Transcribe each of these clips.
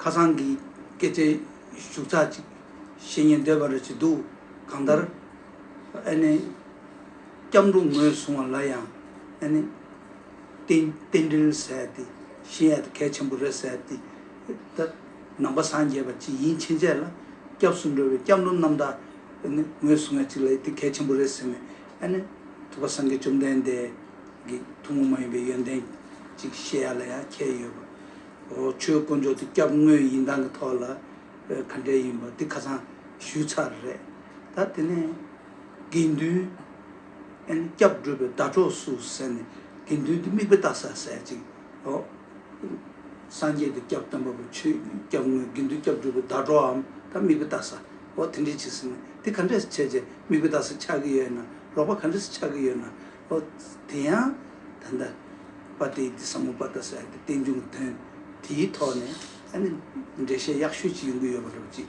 ཁ་སང་གི་སྐད་ཆའི་བཞུགས་ཚགས་ཅིག་བཤད་ཉན་འདོད་པ་རེ་བྱས་འདུག་གང་ལྟར། ཨ་ནེ་སྐྱབས་འགྲོ་ངོས་བཟུང་བ་ལ་ཡང་ཨ་ནེ་རྟེན་འབྲེལ་ཟད་དེ་གཞི་ཡལ་དུ་གལ་ཆེན་པོ་རེ་ཟད་དེ། ད་ནང་པ་སངས་རྒྱས་པ་ཅིག་ཡིན་ཕྱིན་ཆད་ལ། སྐྱབས་སུ་འགྲོ་བའི་སྐྱབས་འགྲོ་རྣམ་དག་ནི་ངོས་སུ་ང་ཅིག་ལ་ཡིན་ཏེ་གལ་ཆེན་པོ་རེད་ཟེར་ནས་ཨ་ནི། ཐུབ་པ་སངས་རྒྱས་བཅོམ་ལྡན་འདས་ཀྱི་ཐུན་མོང་མ་ཡིན་པའི་ཡོན་ཏན་ཅིག་བཤད་ཡ་ལ་ཡང་ཁྱད་ཡོད་པ། འོ་ཆོས་དཀོན་མཆོག་དེ་སྐྱབས་དངོས་ཡིན་སྟངས་ཀྱི་ཐོག་ལ་ག་འདྲས་ཡིན་པ་འདི་ཁ་ཚང་ཞུས་ཚར་རེད། ད་དེ་ནས་དགེ་འདུན། སྐྱབས་སྒྲུབ་པའི་ཟླ་གྲོགས་སུ་ཟེར་ནས་དགེ་འདུན་གྱི་དམིགས་པ་བཏགས་ས་ཟེར་ཅིག། སངས་རྒྱས་ཀྱི་སྐྱབས་སྟོན་པ་པོ་ཆོས་སྐྱབས་དངོས་དགེ་འདུན་སྐྱབས་སྒྲུབ་པའི་ཟླ་གྲོགས་འམ་དམིགས་པ་བཏགས་ས། དེ་འདྲས་ཅིག་ཟེར་ན་དེ་ག་འདྲས་སུ་བྱས་རྗེས་དམིགས་པ་བཏགས་ས་ཆགས་ཀྱི་ཡོད་ན་ལོག་པ་ག་འདྲས་སུ་ཆགས་ཀྱི་ཡོད་ན། དེ་ཡང་ད་ལྟ་པ་དེའི་དེ་ཟབ་མོ་པ་ད་ཟེར་ཏེ་རྟེན་འབྱུང་གི་དོན་དེའི་ཐོག་ནས་འགྲེལ་བཤད་ཡག་ཤོས་ཅིག་ཡོང་གི་ཡོད་པ་འགྲོ་ཅིག།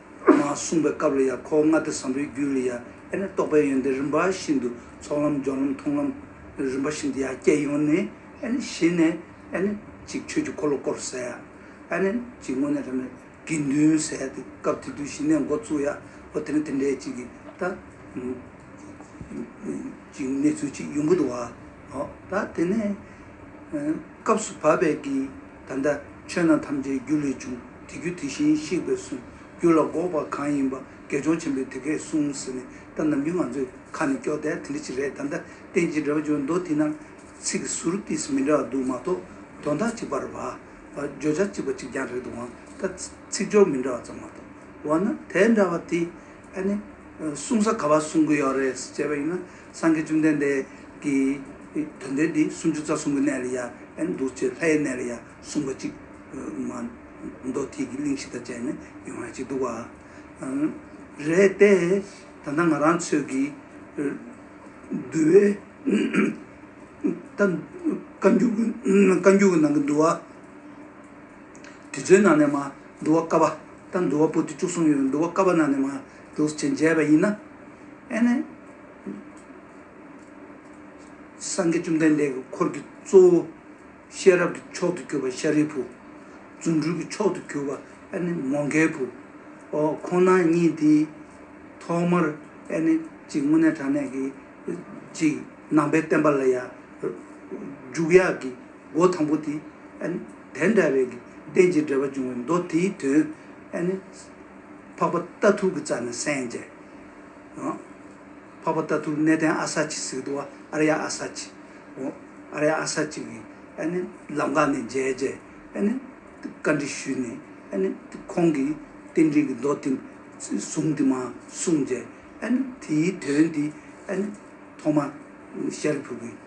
ངང་གསུངས་པའི་སྐབས་ལ་ཡང་གོ་ལྔ་སྟེ་བཟང་པོའི་རྒྱུད་ལ་ཡང་དཔེར་ན་རྟོགས་པའི་ཡོན་ཏན་རིམ་པ་བཞིན་དུ་ཚོགས་ལམ་སྦྱོར་ལམ་མཐོང་ལམ་རིམ་པ་བཞིན་དུ་ཡང་སྐྱེ་ཡོང་ནས། གཞི་ནས། གཅིག་ཆོས་ཀྱི་འཁོར་ལོ་བསྐོར་བསལ། གཅིག་དངོས་གནས་ཐམས་ཅད་དགེ་འདུན་བསལ་ཏེ་སྐབས་དེ་དུས་གཞི་ནས་མགོ་བཙུགས་ཡ་ཨོ་དེ་ནི་དེ་འདྲའི་གཅིག་གིས་ད། གཅིག་གནས་ཚུལ་གཅིག་ཡོང་གི་འདུག་བ། ད་དེ་ནས། སྐབས་སུ་བབ་པས་ཀྱི། ད་ལྟ་ཆོས་རྣམས་ཐམས་ཅད་རྒྱུ་ལས་བྱུང། དེ་རྒྱུ་དེ་བཞིན་གཤེགས་པས་གསུངས། རྒྱུ་ལ་འགོག་པ་གང་ཡིན་པ། དགེ་སྦྱོང་ཆེན་པོས་དེ་སྐད་གསུངས་ཟེར་ནས་ད་ནམ་རྒྱུན་ང་ཚོའི་ཁ་ནས་སྐྱོག་དལ་དེ་འདྲ་ཅིག་རེད་ད་ལྟ་བསྟན་ཅིང་འབྲེལ་བ་བརྗོད་མདོ་དེ་རྣམས་ཚིག་ཟུར་ཏིས་མི་འདྲ་བ་འདུག་མ་གཏོགས་དོན་དག་གཅིག་པར་བ། བརྗོད་བྱ་གཅིག་པ་གཅིག་རྐྱང་རེད་འདུག་འང་ད་ཚིག་སྦྱོར་མི་འདྲ་བ་ཙམ་མ་གཏོགས། འོ་ན་དེ་འདྲ་བ་དེ། ཨ་ནི། གསུང་ས་ག་བ་གསུང་གི་ཡོད་རེད་ཟེར་བྱས་པ་ཡིན་ན། སངས་རྒྱས་བཅོམ་ལྡན་འདས་ཀྱིས། དོན་དེ་འདི་སུམ་ཅུ་རྩ་གསུམ་གྱི་གནས་ལ་ཡང་འདུ་བྱེད་ལྷའི་གནས་ལ་ཡང་གསུམ་པ་གཅིག། མདོ་ཐིག་གི་གླིང་བཞི་དང་བཅས་ནས་ཡོང་བ་གཅིག་འདུག་བ། རེད་དེ། ད་ལྟ་ང་རང་ཚོས་ཀྱིས། འདུལ་བའི། བཀའ་འགྱུར་གྱི་ནང་གི་འདུལ་བ། དེ་ཚོའི་ནང་ནས་མ། འདུལ་བ་ཀ་པ། དང་འདུལ་བ་པོ་ཏི་བཅུ་གསུམ་ཡོད་འདུལ་བ་ཀ་པ་ནང་ནས་མ། འདུ་བྱེད་འཇལ་བ་ཡིན་ན། ཨེ་ནས། སངས་རྒྱས་བཅོམ་ལྡན་འདས་ཀྱི་འཁོར་གྱི་གཙོ་བོ། ཤེས་རབ་ཀྱི་མཆོག་ཏུ་གྱུར་པ་ཤཱ་རིའི་བུ། རྫུ་འཕྲུལ་གྱི་མཆོག་ཏུ་གྱུར་པ་ཨེ་ནས་མོ་མཁའི་བུ། འོ་ཁོ་ན་ཉིད་དེ། ཐོག་མར་ཨེ་ནས་ཅིག་སྔོན་གནས་དྲང་གནས་ཀྱི། ཅིག་ནང་པའི་བསྟན་པ་ལ་ཡང། འཇུག་ཡག་གི་སྒོ་དང་པོ་དེ། དེ་འདྲ་བའི་གི་རྟེན་ཅིག་འབྲེལ་པ་འབྱུང་བའི་མདོ་དེའི་དོན། ཨེ་ནས། འཕགས་པ་རྟ་ཐུག་གི་རྩ་ནི་སན་ཇའི། འཕགས་པ་རྟ་ཐུག་གནས་བརྟན་ཨ་ས་ཅི་སི་ཏུ་ཨ་ར་ཡ་ཨ་ས་ཅི། ཨ་ར་ཡ་ཨ་ས་ཅི་གི་ལམ་ཁ་ནས་མཇལ་རྗེས་བཀའ་འདྲི་ཞུས་ནས་ཁོང་གིས་རྟེན་འབྲེལ་གྱི་མདོ་དེ་ཟུང་དེ་མ་གསུངས་རྗེས་དེའི་དོན་དེ་ཐོག་མ་ཤཱ་རིའི་བུ་གིས།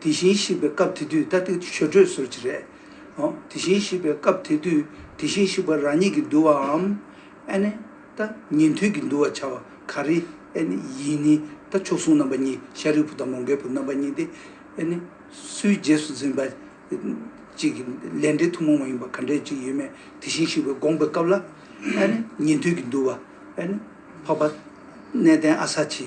དེ་བཞིན་གཤེགས་པའི་སྐབས་དེ་དུས་ད་ཏིག་ཆོས་སྒྲོས་ཟུར་གྱི་རེད། དེ་བཞིན་གཤེགས་པའི་སྐབས་དེ་དུས་དེ་བཞིན་གཤེགས་པ་རང་ཉིད་ཀྱིས་འདུལ་བའམ། ཨ་ནི། ད་ཉན་ཐོས་ཀྱིས་འདུལ་བར་བྱ་བ་ག་རེ། ཨ་ནི། ཡིན་ནི། ད་མཆོག་ཟུང་རྣམ་པ་གཉིས་ཤཱ་རིའི་བུ་དང་མོ་འགལ་བུ་རྣམ་པ་གཉིས་ཏེ། ཨ་ནི། སུའི་རྗེས་སུ་འཛིན་པ། གཅིག་གི་ལས་འབྲས་ཐུན་མོང་མ་ཡིན་པ་ག་འདྲའི་ཅིག་ཡོད་མེད་དེ་བཞིན་གཤེགས་པའི་དགོངས་པའི་སྐབས་ལ། ཨ་ནི། ཉན་ཐོས་ཀྱིས་འདུལ་བ། ཨ་ནི། འཕགས་པ། གནས་བརྟན་ཨ་ས་ཆི།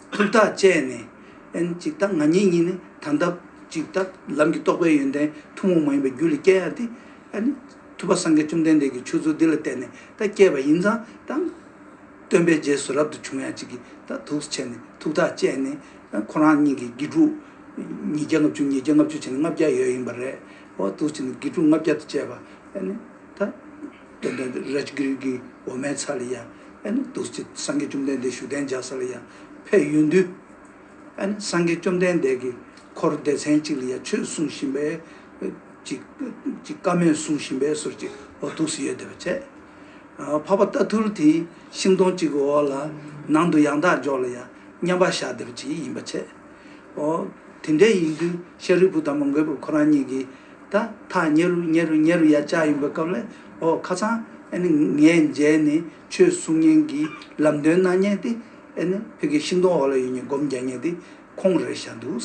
ཐུགས་ཐག་བཅད་ནས། ཨན་ཅིག་ད་ང་ཉིད་གཉིས་ནི་ད་ལྟ་ཅིག་ད་ལམ་གྱི་རྟོགས་པའི་ཡོན་ཏན་ཐུན་མོང་མ་ཡིན་པའི་རྒྱུ་ལས་སྐྱེ་ཡང་སྟེ། ཐུབ་པ་སངས་རྒྱས་བཅོམ་ལྡན་འདས་ཀྱིས་ཆོས་ཚུལ་འདི་ལ་བརྟེན་ནས་ད་སྐྱེས་པ་ཡིན་ཙང་ད། སྟོན་པའི་རྗེས་སུ་རབ་ཏུ་བྱུང་ཡང་ཅིག་གིས་ད་དུག་སུ་ཆེ་ནས་ཐུགས་ཐག་བཅད་ནས། ཁོ་རང་གཉིས་ཀྱིས་དགེ་ཕྲུག། ཉིས་བརྒྱ་ལྔ་བཅུ་ཉིས་བརྒྱ་ལྔ་བཅུ་བྱས་ནས་ལྔ་བརྒྱ་ཡོད་ཡིན་པ་རེད། ཧོ་དུག་སུ་ཆེ་ནས་དགེ་ཕྲུག་ལྔ་བརྒྱ་དུ་བཅས་པ། ད། དོན་དུ Rajgiri གྱི་འོ་མའི་ཚལ་ལ་ཡང། བདུད་རྩི་སངས་རྒྱས་བཅོམ་ལྡན་འདས་བཞུགས་གདན་འཇགས་ས་ལ་ཡང་ཕེབས་ཡོད་འདུག། སངས་རྒྱས་བཅོམ་ལྡན་འདས་ཀྱི་འཁོར་སྡེ་ཚན་གཅིག་ལ་ཡང་ཆོས་གསུང་བཞིན་པས། ཀྱི་བཀའ་མོས་གསུང་བཞིན་པས་སོར་གཅིག་འོག་ཐུགས་སུ་ཡོད་དེ་བ་ཆད། འཕགས་པ་རྟ་ཐུལ་དེའི་ཤིང་སྡོང་གཅིག་གི་འོག་ལ། ནང་དུ་ཡང་དག་འཇོག་ལ་ཡང་མཉམ་པར་བཞག་དེ་བ་གཅིག་ཡིན་པ་ཆད། ཨོ། དེ་འདྲ་ཡིན་དུས་ཤཱ་རིའི་བུ་དང་མོ་མགོན་པོ་ཁོ་རང་གཉིས་ཀྱིས། ད་ཐག་ཉེ་རུ་ཉེ་རུ་ཉེ་རུ་ཡར་བཅར་ཡོང་པའི་སྐབས་ལ། ཨོ་ཁ་སང། ཨེ་ནི་ངས་མཇལ་ནི་ཆོས་གསུང་མཁན་གྱི་ལམ་སྟོན་གནང་མཁན་དེ། ཨེ་ནི་བོད་ཀྱི་ཤིང་སྡོང་འོག་ལ་ཡོད་མཁན་སྒོམ་རྒྱག་མཁན་དེ་ཁོང་རེད་བཞག་འདུག།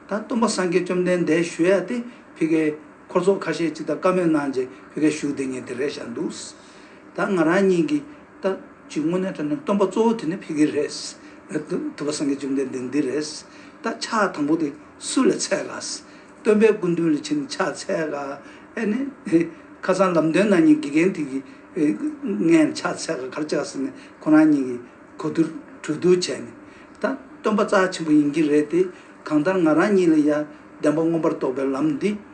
ད་སྟོན་པ་སངས་རྒྱས་བཅོམ་ལྡན་འདས་ཞུ་ཡ་དེ་བྷི་གའི་འཁོར་ཚོགས་ཁ་ཤས་ཅིག་དང་བཀའ་མོལ་གནང་རྗེས་བྷི་ག་བཞུགས་བསྡད་མཁན་དེ་རེད་བཞག་འདུག། ད་ང་རང་གཉིས་ཀྱིས་ལྟ་ཇི་དངོས་གནས་དོན་ནི་སྟོན་པ་གཙོ་བོ་དེ་ནི་ཕི་གི་རེད། ཐུབ་པ་སངས་རྒྱས་བཅོམ་ལྡན་འདས་འདི་རེད། ད་ཕྱག་དང་པོ་དེ་སུ་ལས་ཚད་དཀའ། སྟོན་པའི་སྐུ་མདུན་ལས་ཕྱིན་ནི་ཕྱག་ཚད་དཀའ། ཨེ་ནི། ཁ་སང་ལམ་སྟོན་ན་ནི་དགེ་རྒན་དེ་གིས་ངའི་ནི་ཕྱག་ཚད་དཀའ་གར་བཅག་ཟེར་ནས་ཁོ་རང་གཉིས་ཀྱིས་གོ་བསྡུར་གྲོས་བསྡུར་བྱས་ནས། ད་སྟོན་པ་རྩ་ཆེན་པོ་ཡིན་གྱི་རེད་དེ། གང་ལྟར་ང་རང་གཉིས་ལ་ཡང་བདེན་པ་མངོན་པར་རྟོགས་པའི་ལམ་འདི།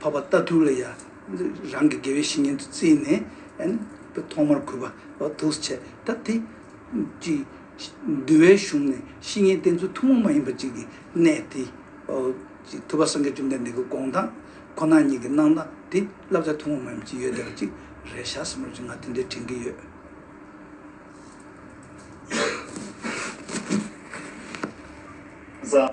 འཕགས་པ་རྟ་ཐུག་ལ་ཡང་རང་གི་དགེ་བའི་བཤེས་གཉེན་དུ་བརྩིས་ནས། དཔེར་ཐོག་མར་གུས་པ་བ་ཐུགས་སུ་བྱས། ད་དེ་ཅིག། འདུལ་བའི་གཞུང་ནས་བཤེས་གཉེན་བསྟེན་ཚུལ་ཐུན་མོང་མ་ཡིན་པ་ཅིག་གི་གནད་དེ། ཐུབ་པ་སངས་རྒྱས་བཅོམ་ལྡན་འདས་ཀྱི་དགོངས་དག་ཁོ་ན་ཉིད་ཀྱི་གནང་སྟངས་དེ་བསླབ་བྱ་ཐུན་མོང་མ་ཡིན་པ་ཅིག་ཡོད་བསྡད་པ་ཅིག་རེད་ཤག་བསམ་རབས་ཅིག་ང་དེ་འདྲའི་དྲན་གྱི་ཡོད། བཟའ།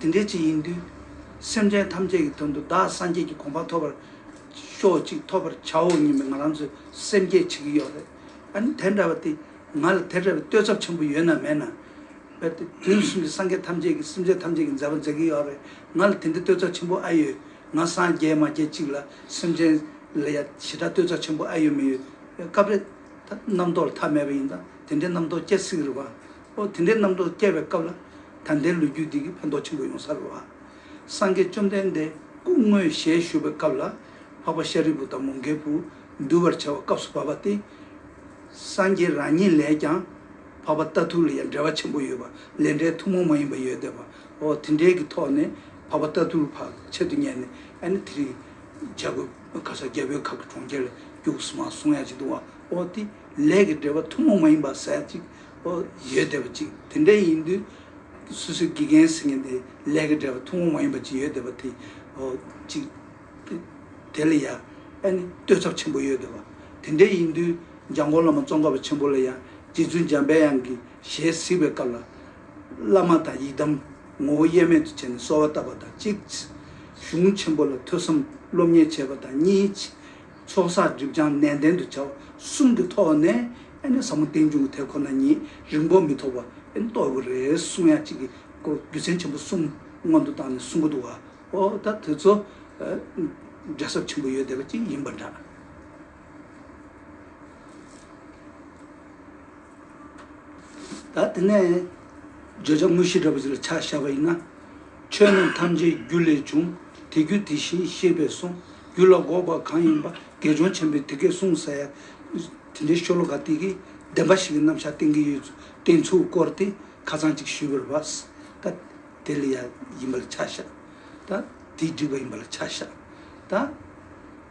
དེ་འདྲའི་ཆེད་ཡིན་དུས། སེམས་ཅན་ཐམས་ཅད་ཀྱི་དོན་དུ་བདག་སངས་རྒྱས་ཀྱི་དགོངས་པ་ཐོབ་པར་ཤོག་ཅིག་ཐོབ་པར་བྱའོ་སྙམ་པའི་ང་རང་ཚོའི་སེམས་བསྐྱེད་བྱེད་ཀྱི་ཡོད་རེད། དེ་འདྲ་བ་དེ་ང་ལ་དེ་འདྲ་བའི་བསྟོད་ཚབ་ཆེན་པོ་ཡོད་ན་མེད་ན། དུས་གསུམ་གྱི་སངས་རྒྱས་ཐམས་ཅད་ཀྱིས་སེམས་ཅན་ཐམས་ཅད་ཀྱི་མཛད་པ་མཛད་ཀྱི་ཡོད་རེད། ང་ལ་དེ་འདྲའི་བསྟོད་ཚབ་ཆེན་པོ་ཨེ་ཡོད། ང་སངས་རྒྱས་མ་རྒྱལ་ཅིག་ལ་སེམས་ཅན་ལ་ཡང་ཞེ་དྲག་བསྟོད་ཚབ་ཆེན་པོ་ཨེ་ཡོད་མི་ཡོད་སྐབས་རེད། རྣམ་རྟོག་ལ་ཐ་མལ་པ་ཡིན་ཙང་དེ་འདྲའི་རྣམ་རྟོག་སྐྱེ་སྲིད་རེད་བ། ཨོ་དེ་འདྲའི་རྣམ་རྟོག་སྐྱེ་བའི་སྐབས་ལ། ད་ལྟའི་ལོ་རྒྱུས་འདི་གིས་ཕན་ཐོགས་ཆེན་པོ་ཡོང་ས་རེད་བ། སངས་རྒྱས་བཅོམ་ལྡན་འདས་སྐུ་དངོས་ཞལ་བཞུགས་པའི་སྐབས་ལ། འཕགས་པ་ཤཱ་རིའི་བུ་དང་མོ་འགལ་བུ་འདུལ་བར་བྱ་བ་སྐབས་སུ་བབས་པ་སྟེ། སངས་རྒྱས་རང་ཉིད་ལས་ཀྱང་འཕགས་པ་ལྟ་ཐུག་ལ་ཡང་འབྲེལ་བ་ཆེན་པོ་ཡོད་པ་ལས་འབྲས་ཐུན་མོང་མ་ཡིན་པ་ཡོད་དེ་བ། ཨོ་དེ་འདྲའི་གི་ཐོག་ནས་འཕགས་པ་ལྟ་ཐུག་བར་ཆད་དུ་གཉེར་ནས་ཨ་ནི་དེ་རིང་འཇའ་གོས་ག་ས་རྒྱལ་པོའི་ཁབ་ཀྱི་གྲོང་ཁྱེར་ལ་རྒྱུགས་སོང་བ་སོང་ཡ་གཅིག་འདུག་བ། ཨོ་དེ་ལས་ཀྱི་འབྲེལ་བ་ཐུན་མོང་མ་ཡིན་པ་ཟད་ཅིག་ཨོ། ཡོད་བསྡད་པ་ཅིག་དེ་འདྲས་ཡིན་དུས། སུ་སུའི་དགེ་རྒན་ཟེར་མཁན་དེ་ལས་ཀ་བྲལ་བ་ཐུང་ངུ་མ་ཡིན་པ་ཅིག་ཡོད་བསྡད་པ་དེ། ཨོ། ཅིག། དེ་ལ་ཡང། ཨ་ནི། བསྟོད་ཚབ་ཆེན་པོ་ཡོད་བསྡད་པ། དེ་འདྲས་ཡིན་དུས། འཇའ་འགོང་བླ་མ་ཙོང་ཁ་བ་ཆེན་པོ་ལ་ཡང། རྗེ་བཙུན་འཇམ་དཔལ་དབྱངས་ཀྱི་ཞལ་གཟིགས་པའི་སྐབས་ལ། བླ་མ་དང་ཡི་དམ། ངོ་བོ་དབྱེར་མེད་དུ་བྱས་ནས་གསོལ་བ་བཏབ་པ་དང་གཅིག། གཞུང་ཆེན་པོ་ལ་ཐོས་བསམ་སློབ་གཉེར་བྱས་པ་དང་གཉིས། ཚོགས་བསགས་སྒྲིབ་སྦྱང་ནན་ཏན་དུ་བྱ་བ་གསུམ་གྱི་ཐོག་ནས་ཨེ་ནས་ཟབ་མོ་རྟེན་འབྱུང་གི་དེ་ཁོ་ན་ཉིད་རིང་པོ་མི་ཐོགས་པ་ཨེ་ནས་རྟོགས་དགོས་རེད་གསུངས་ཡ་གཅིག་གི་སྐོར་རྒྱུ་མཚན་ཆེན་པོ་གསུམ་སྔོན་དུ་བཏང་ནས་གསུང་གི་འདུག་བ་འོ་ད་དེ་ཚོ་འབྲས་ཟབ་ཆེན་པོ་ཡོད་བསྡད་པ་ཅིག་ཡིན་པ་འདྲ། ད་དེ་ནས་བརྗོད་བྱ་དངོས་གཞི་འདྲ་པོ་ཞིག་ལ་ཆ་བཞག་པ་ཡིན་ན། ཆོས་རྣམས་ཐམས་ཅད་རྒྱུ་ལས་བྱུང་དེ་རྒྱུ་དེ་བཞིན་ཤེས་པས་གསུངས་རྒྱུ་ལ་འགོག་པ་གང་ཡིན་པ་དགེ་སྦྱོང་ཆེན་པོས་དེ་སྐད་གསུངས་ཟེར། དེ་འདྲའི་ཤོ་ལོ་ཀ་སྟེ་གྱི་བདེན་པ་ཞིག་གི་རྣམ་བཞག་བསྟན་གྱི་ཡོད་བསྟན་ཚུལ་སྐོར་དེ་ཁ་ཚང་ཅིག་ཞུས་པར་བབས། ད་དེ་ལ་ཡ་ཡིན་པ་ལ་ཆ་བཞག། ད་དེ་འགྲིག་པ་ཡིན་པ་ལ་ཆ་བཞག། ད།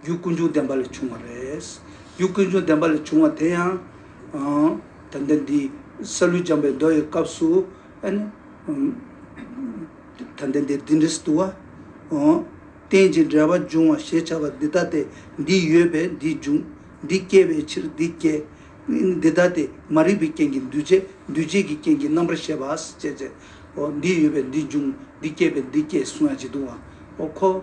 རྒྱུ་ཀུན་འབྱུང་བདེན་པ་ལས་བྱུང་བ་རེད། རྒྱུ་ཀུན་འབྱུང་བདེན་པ་ལས་བྱུང་བ་དེ་ཡང། ད་ལྟ་འདི་ས་ལུས་སྦྱངས་པའི་མདོ་ཡི་སྐབས་སུ། ད་ལྟ་འདི་འདི་འདྲིས་བསྡུ་བ། རྟེན་ཅིང་འབྲེལ་བར་འབྱུང་བ་ཞེས་བྱ་བ་འདི་ལྟ་སྟེ། འདི་ཡོད་པས་འདི་འབྱུང། འདི་སྐྱེ་བའི་ཕྱིར་འདི་སྐྱེ། འདི་ལྟ་སྟེ་མ་རིག་པའི་རྐྱེན་གྱིས་འདུས་བྱས་འདུས་བྱས་ཀྱི་རྐྱེན་གྱི་རྣམ་པར་ཤེས་པ་ཞེས་བྱའོ། འདི་ཡོད་པས་འདི་འབྱུང། འདི་སྐྱེས་པས་འདི་སྐྱེ་གསུང་ཡང་ཇི་བཏུང་བའོ།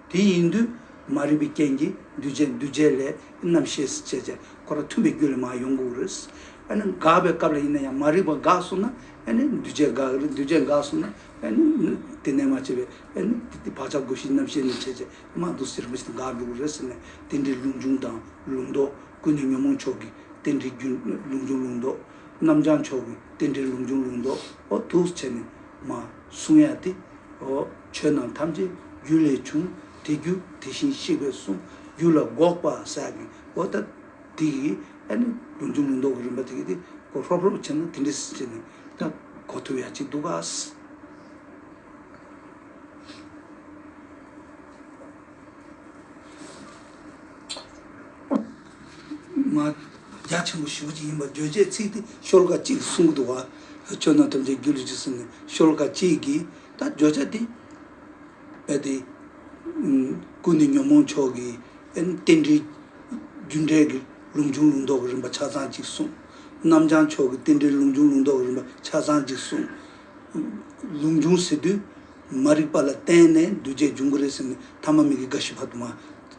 དེ་ཡིན་དུས་མ་རིག་པའི་རྐྱེན་གྱིས་འདུས་བྱས་འདུས་བྱས་ལས་རྣམ་ཤེས་སུ་བྱེད་ཅེས་ཁོ་རང་མཐུན་པའི་རྒྱུ་ལས་མ་ཡོང་གི་འོ་རེད། ཨ་ནི་འགགས་པའི་སྐབས་ལ་ཡིན་ན་ཡང་མ་རིག་པ་འགགས་གསུངས་ན་ཨ་ནི་འདུས་བྱས་འགགས་གི་རེད་འདུས་བྱས་འགགས་གསུངས་ན་ཨ་ནི་དེ་ནས་མ་བྱས་པའི་ཨ་ནི་བག་ཆགས་སྒོ་བཞིའི་རྣམ་ཤེས་ནི་བྱས་བྱས་མ་གཏོགས་ཟེར་མི་སྲིད་འགགས་འགྲོ་གི་རེད་ཟེར་ནས་དེ་འདྲའི་ལུང་ཆུང་དང་ལུང་མདོག་ཀུན་ནས་ཉོན་མོངས་མཆོག་གི་དེ་འདྲའི་རྒྱུ་ལུང་ཆུང་ལུང་མདོག་རྣམ་བྱང་མཆོག་གི་དེ་འདྲའི་ལུང་ཆུང་ལུང་མདོག་འོ་ཐུགས་སུ་བྱས་ནས་མ་གསུངས་ཡ་དེ་འོ། ཆོས་རྣམས་ཐམས་ཅད་རྒྱུ་ལས་བྱུང། དེ་རྒྱུ་དེ་བཞིན་གཤེགས་པས་གསུངས། རྒྱུ་ལ་འགོག་པ་ཟ་བའི་འོ། ད་དེ་ཡི་ཨ་ནི་རྒྱུ་འབྱུང་མི་ཟློག་གི་རིམ་པ་དེ་གི་དེ་གོ་ཧྲོབ་ཧྲོབ་བྱེད་ན་དེ་འདྲི་བྱེད་ནི་ད་གོ་ཐུབ་ཡག་ཅིག་འདུག་ག། མ་རྒྱ་ཆེན་པོ་ཞུ་གཅིག་ཡིན་པར་བརྗོད་བྱའི་ཚིག་དེ་ཤོལ་ཀ་གཅིག་གིས་གསུངས་གི་འདུག་ག། ཆོས་རྣམས་ཐམས་ཅད་རྒྱུ་ལས་བྱུང་ཟེར་ནས་ཤོལ་ཀ་གཅིག་གིས་ད་བརྗོད་བྱ་དེ། གལ་ཏེ། ཀུན་ནས་ཉོན་མོངས་མཆོག་གི། རྟེན་འབྲེལ། རྒྱུ་འབྲས་ཀྱི་ལུང་བྱུང་ལུང་རྟོགས་ཀྱི་རིམ་པ་ཆ་ཚང་གཅིག་གསུངས། རྣམ་བྱང་མཆོག་གི་རྟེན་འབྲེལ་ལུང་བྱུང་ལུང་རྟོགས་ཀྱི་རིམ་པ་ཆ་ཚང་གཅིག་གསུངས། ལུང་བྱུང་ཟེར་དུས། མ་རིག་པ་ལ་བརྟེན་ནས་འདུས་བྱས་འབྱུང་གི་རེད་ཟེར་ནས་ཐ་མ་མིག་གི་རྒ་ཤི་བར་དུ་མ།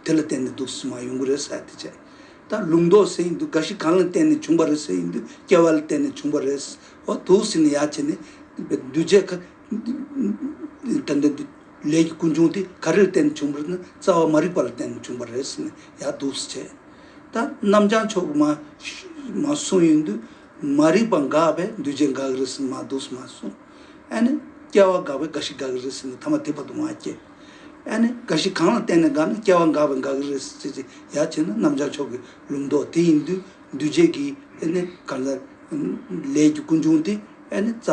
དེ་ལ་བརྟེན་ནས་དུག་གསུམ་མ་ཡོང་གི་རེད་ཟེར་དུས། ལུང་རྟོགས་ཟེར་ཡིན་དུས་རྒ་ཤི་གང་ལ་བརྟེན་ནས་བྱུང་བ་རེད་ཟེར་ཡིན་དུས་སྐྱེ་བ་ལ་བརྟེན་ནས་བྱུང་བ་རེད། ཨོ་དུག་སྲིན་ནི་ཡ་བྱེད་ནི། འདུས་བྱས་ཁ། དེ་འདི་འདི། ལས་ཀྱི་ཀུན་འབྱུང་དེ་ག་རེར་བརྟེན་བྱུང་བར་ན་རྩ་བ་མ་རིག་པ་ལ་བརྟེན་བྱུང་བ་རེད་ཟེར་ནས་ཡ་དུག་སེ་བྱེད། ད་རྣམ་བྱང་ཕྱོགས་ཀྱི་མ། མ་གསུངས་ཡིན་དུས། མ་རིག་པ་འགགས་པས་འདུས་བྱས་འགགས་གི་རེད་ཟེར་ནས་མ་དུག་སེ་མ་གསུངས། ཨེ་ནི། སྐྱེ་བ་འགགས་པས་འགའ་ཞིག་འགགས་གི་རེད་ཟེར་ནས་ཐ་མ་དེ་བར་དུ་མ་སྐྱེས། ཨེ་ནི། འགའ་ཞིག་གང་ལ་བརྟེན་ནས་འགགས་ན་སྐྱེ་བ་འགགས་པས་འགགས་གི་རེད་ཟེར་ཅེས་ཡ་བྱེད་ན་རྣམ་བྱང་ཕྱོགས་ཀྱི་ལུགས་མདོ་དེ་ཡིན་དུས། འདུས་བྱས་ཀྱི་ཨེ་ནི་ག་ལ། ལས་ཀྱི་ཀུན་འབྱུང་དེ་ཨེ་ནི་རྩ་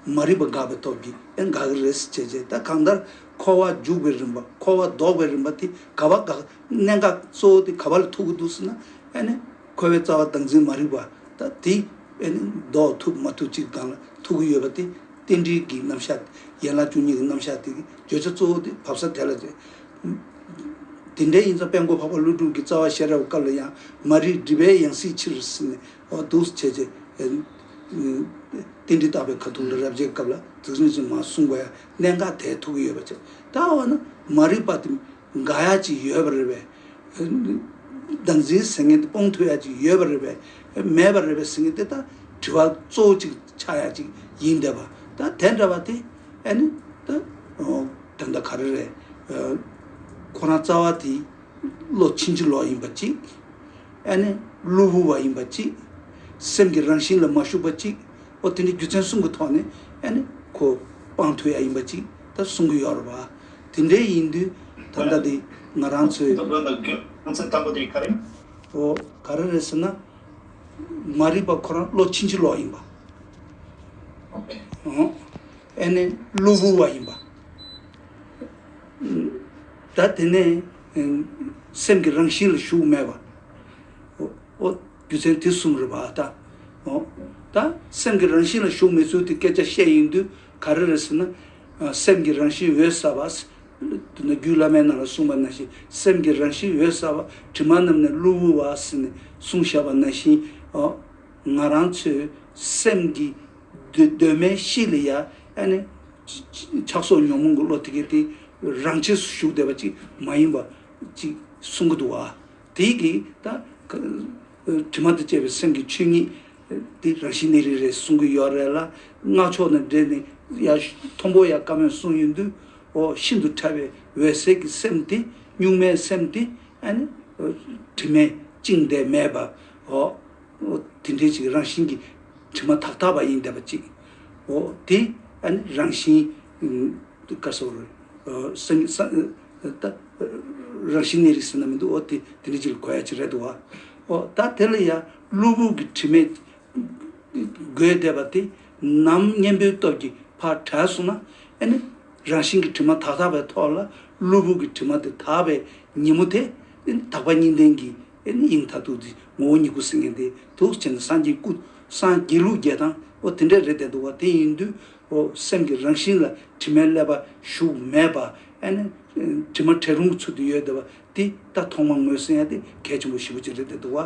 བ། མ་རིག་པ་འགགས་པའི་སྟོབས་ཀྱིས་ཨེ་ནི་འགག་གི་རེད་ཟེར་བྱས་བྱས་ད་གང་ལྟར། འཁོར་བ་འཇུག་པའི་རིམ་པ་འཁོར་བ་ལྡོག་པའི་རིམ་པ་དེ་ག་བ་འགག་གནད་འགག་གཙོ་བོ་དེ་ག་བ་ལ་ཐུག་གི་འདུག་ཟེར་ན། ཨེ་ནི། འཁོར་བའི་རྩ་བ་བདག་འཛིན་མ་རིག་པ་ད་དེ་ཨེ་ནི་ལྡོག་ཐུབ་མ་ཐུབ་ཅིག་དང་ལ་ཐུག་གི་ཡོད་པ་དེ། རྟེན་འབྲེལ་གྱི་རྣམ་གཞག་ཡན་ལག་བཅུ་གཉིས་ཀྱི་རྣམ་གཞག་དེ་གི་བརྗོད་བྱ་གཙོ་བོ་དེ་བབས་ས་དེ་ལ་རེད། དེ་འདྲའི་ཡིན་ཙང་དཔལ་མགོ་འཕགས་པ་ཀླུ་སྒྲུབ་ཀྱི་རྩ་བ་ཤེས་རབ་སྐབས་ལ་ཡང་མ་རིག་སྒྲིབ་པའི་ཡང་སྲིད་ཕྱིར་ཟིན་ནས་འོག་ཏུ་བྱས་རྗེས། རྟེན་འབྲེལ་བརྟག་པའི་ཁ་ཐུག་འདི་རབ་འབྱེད་སྐབས་ལ་གཟིགས་རིམ་ཅིག་མ་གསུངས་པ་ཡང་གནད་འགག་དེའི་ཐུགས་ཀྱི་ཡོད་པ་ཆེ། ད་འོ་ན་མ་རིག་པ་དེ་འགག་ཡ་ཅིག་ཡོད་པ་རེད་པས། བདག་འཛིན་ཟེར་མཁན་དེ་སྤོང་ཐུབ་ཡ་ཅིག་ཡོད་པ་རེད་པས། མེད་པ་རེད་པས་ཟེར་མཁན་དེ་དང་དྲི་བ་གཙོ་བོ་ཅིག་ཆགས་ཡ་ཅིག་ཡིན་བསྡད་པ། ད་དེ་འདྲ་བ་དེ། ཨེ་ནི། ད་ད་ག་རེ་རེད། ཁོ་རང་རྩ་བ་དེ་བློ་ཕྱིན་ཅི་ལོག་ཡིན་པ་གཅིག། ཨེ་ནི། བློ་བུར་བ་ཡིན་པ་གཅིག། སེམས་ཀྱི་རང་བཞིན་ལ་མ་ཞུགས་པ་གཅིག། ཨོ་དེ་འདྲའི་རྒྱུ་མཚན་གསུམ་གྱི་ཐོག་ནས་ཨེ་ནི། ཁོ་དཔང་ཐོ་ཡག་ཡིན་པ་གཅིག་ད་གསུང་གི་ཡོད་རེད་བ། དེ་འདྲའི་ཡིན་དུས་ད་ལྟ་དེ་ང་རང་ཚོའི། འདུག་ལོ་འདུག་རྒྱུ་མཚན་དང་པོ་དེ་ག་རེ། འོ་ག་རེ་རེད་ཟེར་ན། མ་རིག་པ་ཁོ་རང་བློ་ཕྱིན་ཅི་ལོག་ཡིན་པ། ཨེ་ནས་གློ་བུར་བ་ཡིན་པ། ད་དེ་ནས་སེམས་ཀྱི་རང་བཞིན་ལ་ཞུགས་མེད་པ། ཨོ། རྒྱུ་མཚན་དེ་གསུམ་རེད་པ་ད། ཨོ། ད་སེམས་ཀྱི་རང་བཞིན་ལ་ཞུགས་མེད་ཚུལ་དེ་སྐད་ཆ་བཤད་ཡིན་དུས་ག་རེ་རེད་ཟེར་ན། སེམས་ཀྱི་རང་བཞིན་འོད་གསལ་བ། འདི་ནི་རྒྱུད་བླ་མའི་ནང་ལ་གསུངས་པ་ན་བཞིན་སེམས་ཀྱི་རང་བཞིན་འོད་གསལ་བ་དྲི་མ་རྣམས་ནི་གློ་བུར་བ་ཟིན་ནས་གསུང་བཤད་པ་ན་བཞིན་ནོ། ང་རང་ཚོའི་སེམས་ཀྱི་གདོད་མའི་གཤིས་ལ་ཡ་ཨེ་ནི། ཆགས་སོགས་ཉོན་མོངས་ཀྱི་བློ་དེ་གས་དེ་རང་ཆས་སུ་ཞུགས་བསྡད་པ་ཅིག་མ་ཡིན་པ་ཅིག་གསུང་གི་འདུག་བ། དེའི་གིས་ད། དྲི་མ་དང་བཅས་པའི་སེམས་ཀྱི་ཆོས་ཉིད། དེ་རང་བཞིན་ནི་རིགས་རེད་གསུང་གི་ཡོད་རེད་ལ། སྔགས་ཕྱོགས་ནས་འགྲེལ་ནས་ཡཀྵཐོང་པོ་ཡ་ཀ་མོས་གསུངས་ཡོད་འདུག་འོ། ཤིན་ཏུ་ཕྲ་བའི་འོད་གསལ་གྱི་སེམས་དེ་གཉུག་མའི་སེམས་དེ། དྲི་མས་བཅིངས་འདས་མེད་པ་འོ། དེ་འདྲའི་ཞིག་རང་བཞིན་གྱི་དྲི་མ་དག་དག་པ་ཡིན་འདས་པ་གཅིག་འོ། དེ་རང་བཞིན། ད། རང་བཞིན་གནས་རིགས་ཟེར་ན་མི་འདུག་འོ་དེ་དེ་འདྲའི་ཅིག་ལ་གོ་ཡ་ཅིག་རེད་འདུག་བ། འོ་ད་དེ་ལ་ཡང་གློ་བུར་གྱི་དྲི་མས་བསྒོས་བསྡད་པ་དེ་ནམ་གཉེན་པོའི་སྟོབས་ཀྱིས་ཕར་བྲལ་སོང་ན་ཨེ་ནི། རང་བཞིན་གྱི་དྲི་མ་དག་དག་པའི་ཐོག་ལ་གློ་བུར་གྱི་དྲི་མ་དེ་དག་པའི་ཉིན་མོ་དེ་ཨེ་ནི་དག་པ་གཉིས་ལྡན་གྱི་ཨེ་ནི་དབྱིངས་མཐར་ཐུག་འདི་ངོ་བོ་ཉིད་སྐུ་གསེར་མཁན་དེ་ཐུགས་བསྐྱེད་ནས་སངས་རྒྱས་སྐུ་སངས་རྒྱས་ལུགས་བརྒྱད་དང་འོ་དེ་འདྲ་རེད་བསྡད་འདུག་བ་དེ་ཡིན་དུས། ཨོ། སེམས་ཀྱི་རང་བཞིན་ལ་དྲི་མའི་ཀླད་པ་ཞུགས་མེད་པ་ཨེ་ནི། དྲི་མ་བྲལ་རུང་གི་ཚུལ་དུ་ཡོད་བསྡད་པ་འདི་ད་ཐོག་མ་ངོས་ཟིན་ཡ་དེ་གལ་ཆེན་པོ་བཞི་པོ་གཅིག་རེད་བསྡད་འདུག་བ།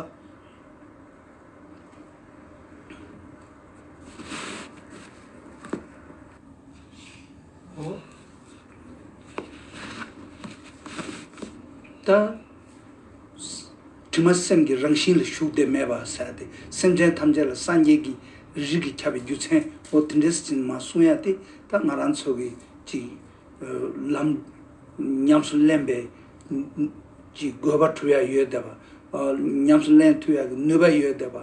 ཨོ། ད། དྲི་མ་སེམས་ཀྱི་རང་བཞིན་ལ་ཞུགས་ཏེ་མེད་པར་ཟད་དེ་སེམས་ཅན་ཐམས་ཅད་ལ་སངས་རྒྱས་ཀྱི་རིགས་ཀྱི་ཁྱབ་པའི་རྒྱུ་མཚན་འོ་དེ་འདྲས་ཅན་མ་གསུང་ཡ་དེ་ད་ང་རང་ཚོ་གི་ཅིག་ལམ་ཉམས་སུ་ལེན་པའི་ཀྱི་དགོས་པ་གྲུབ་ཡ་ཡོད་དད་པ་འོ་ཉམས་སུ་ལེན་ཐུབ་ཡ་གི་ནུས་པ་ཡོད་དད་པ་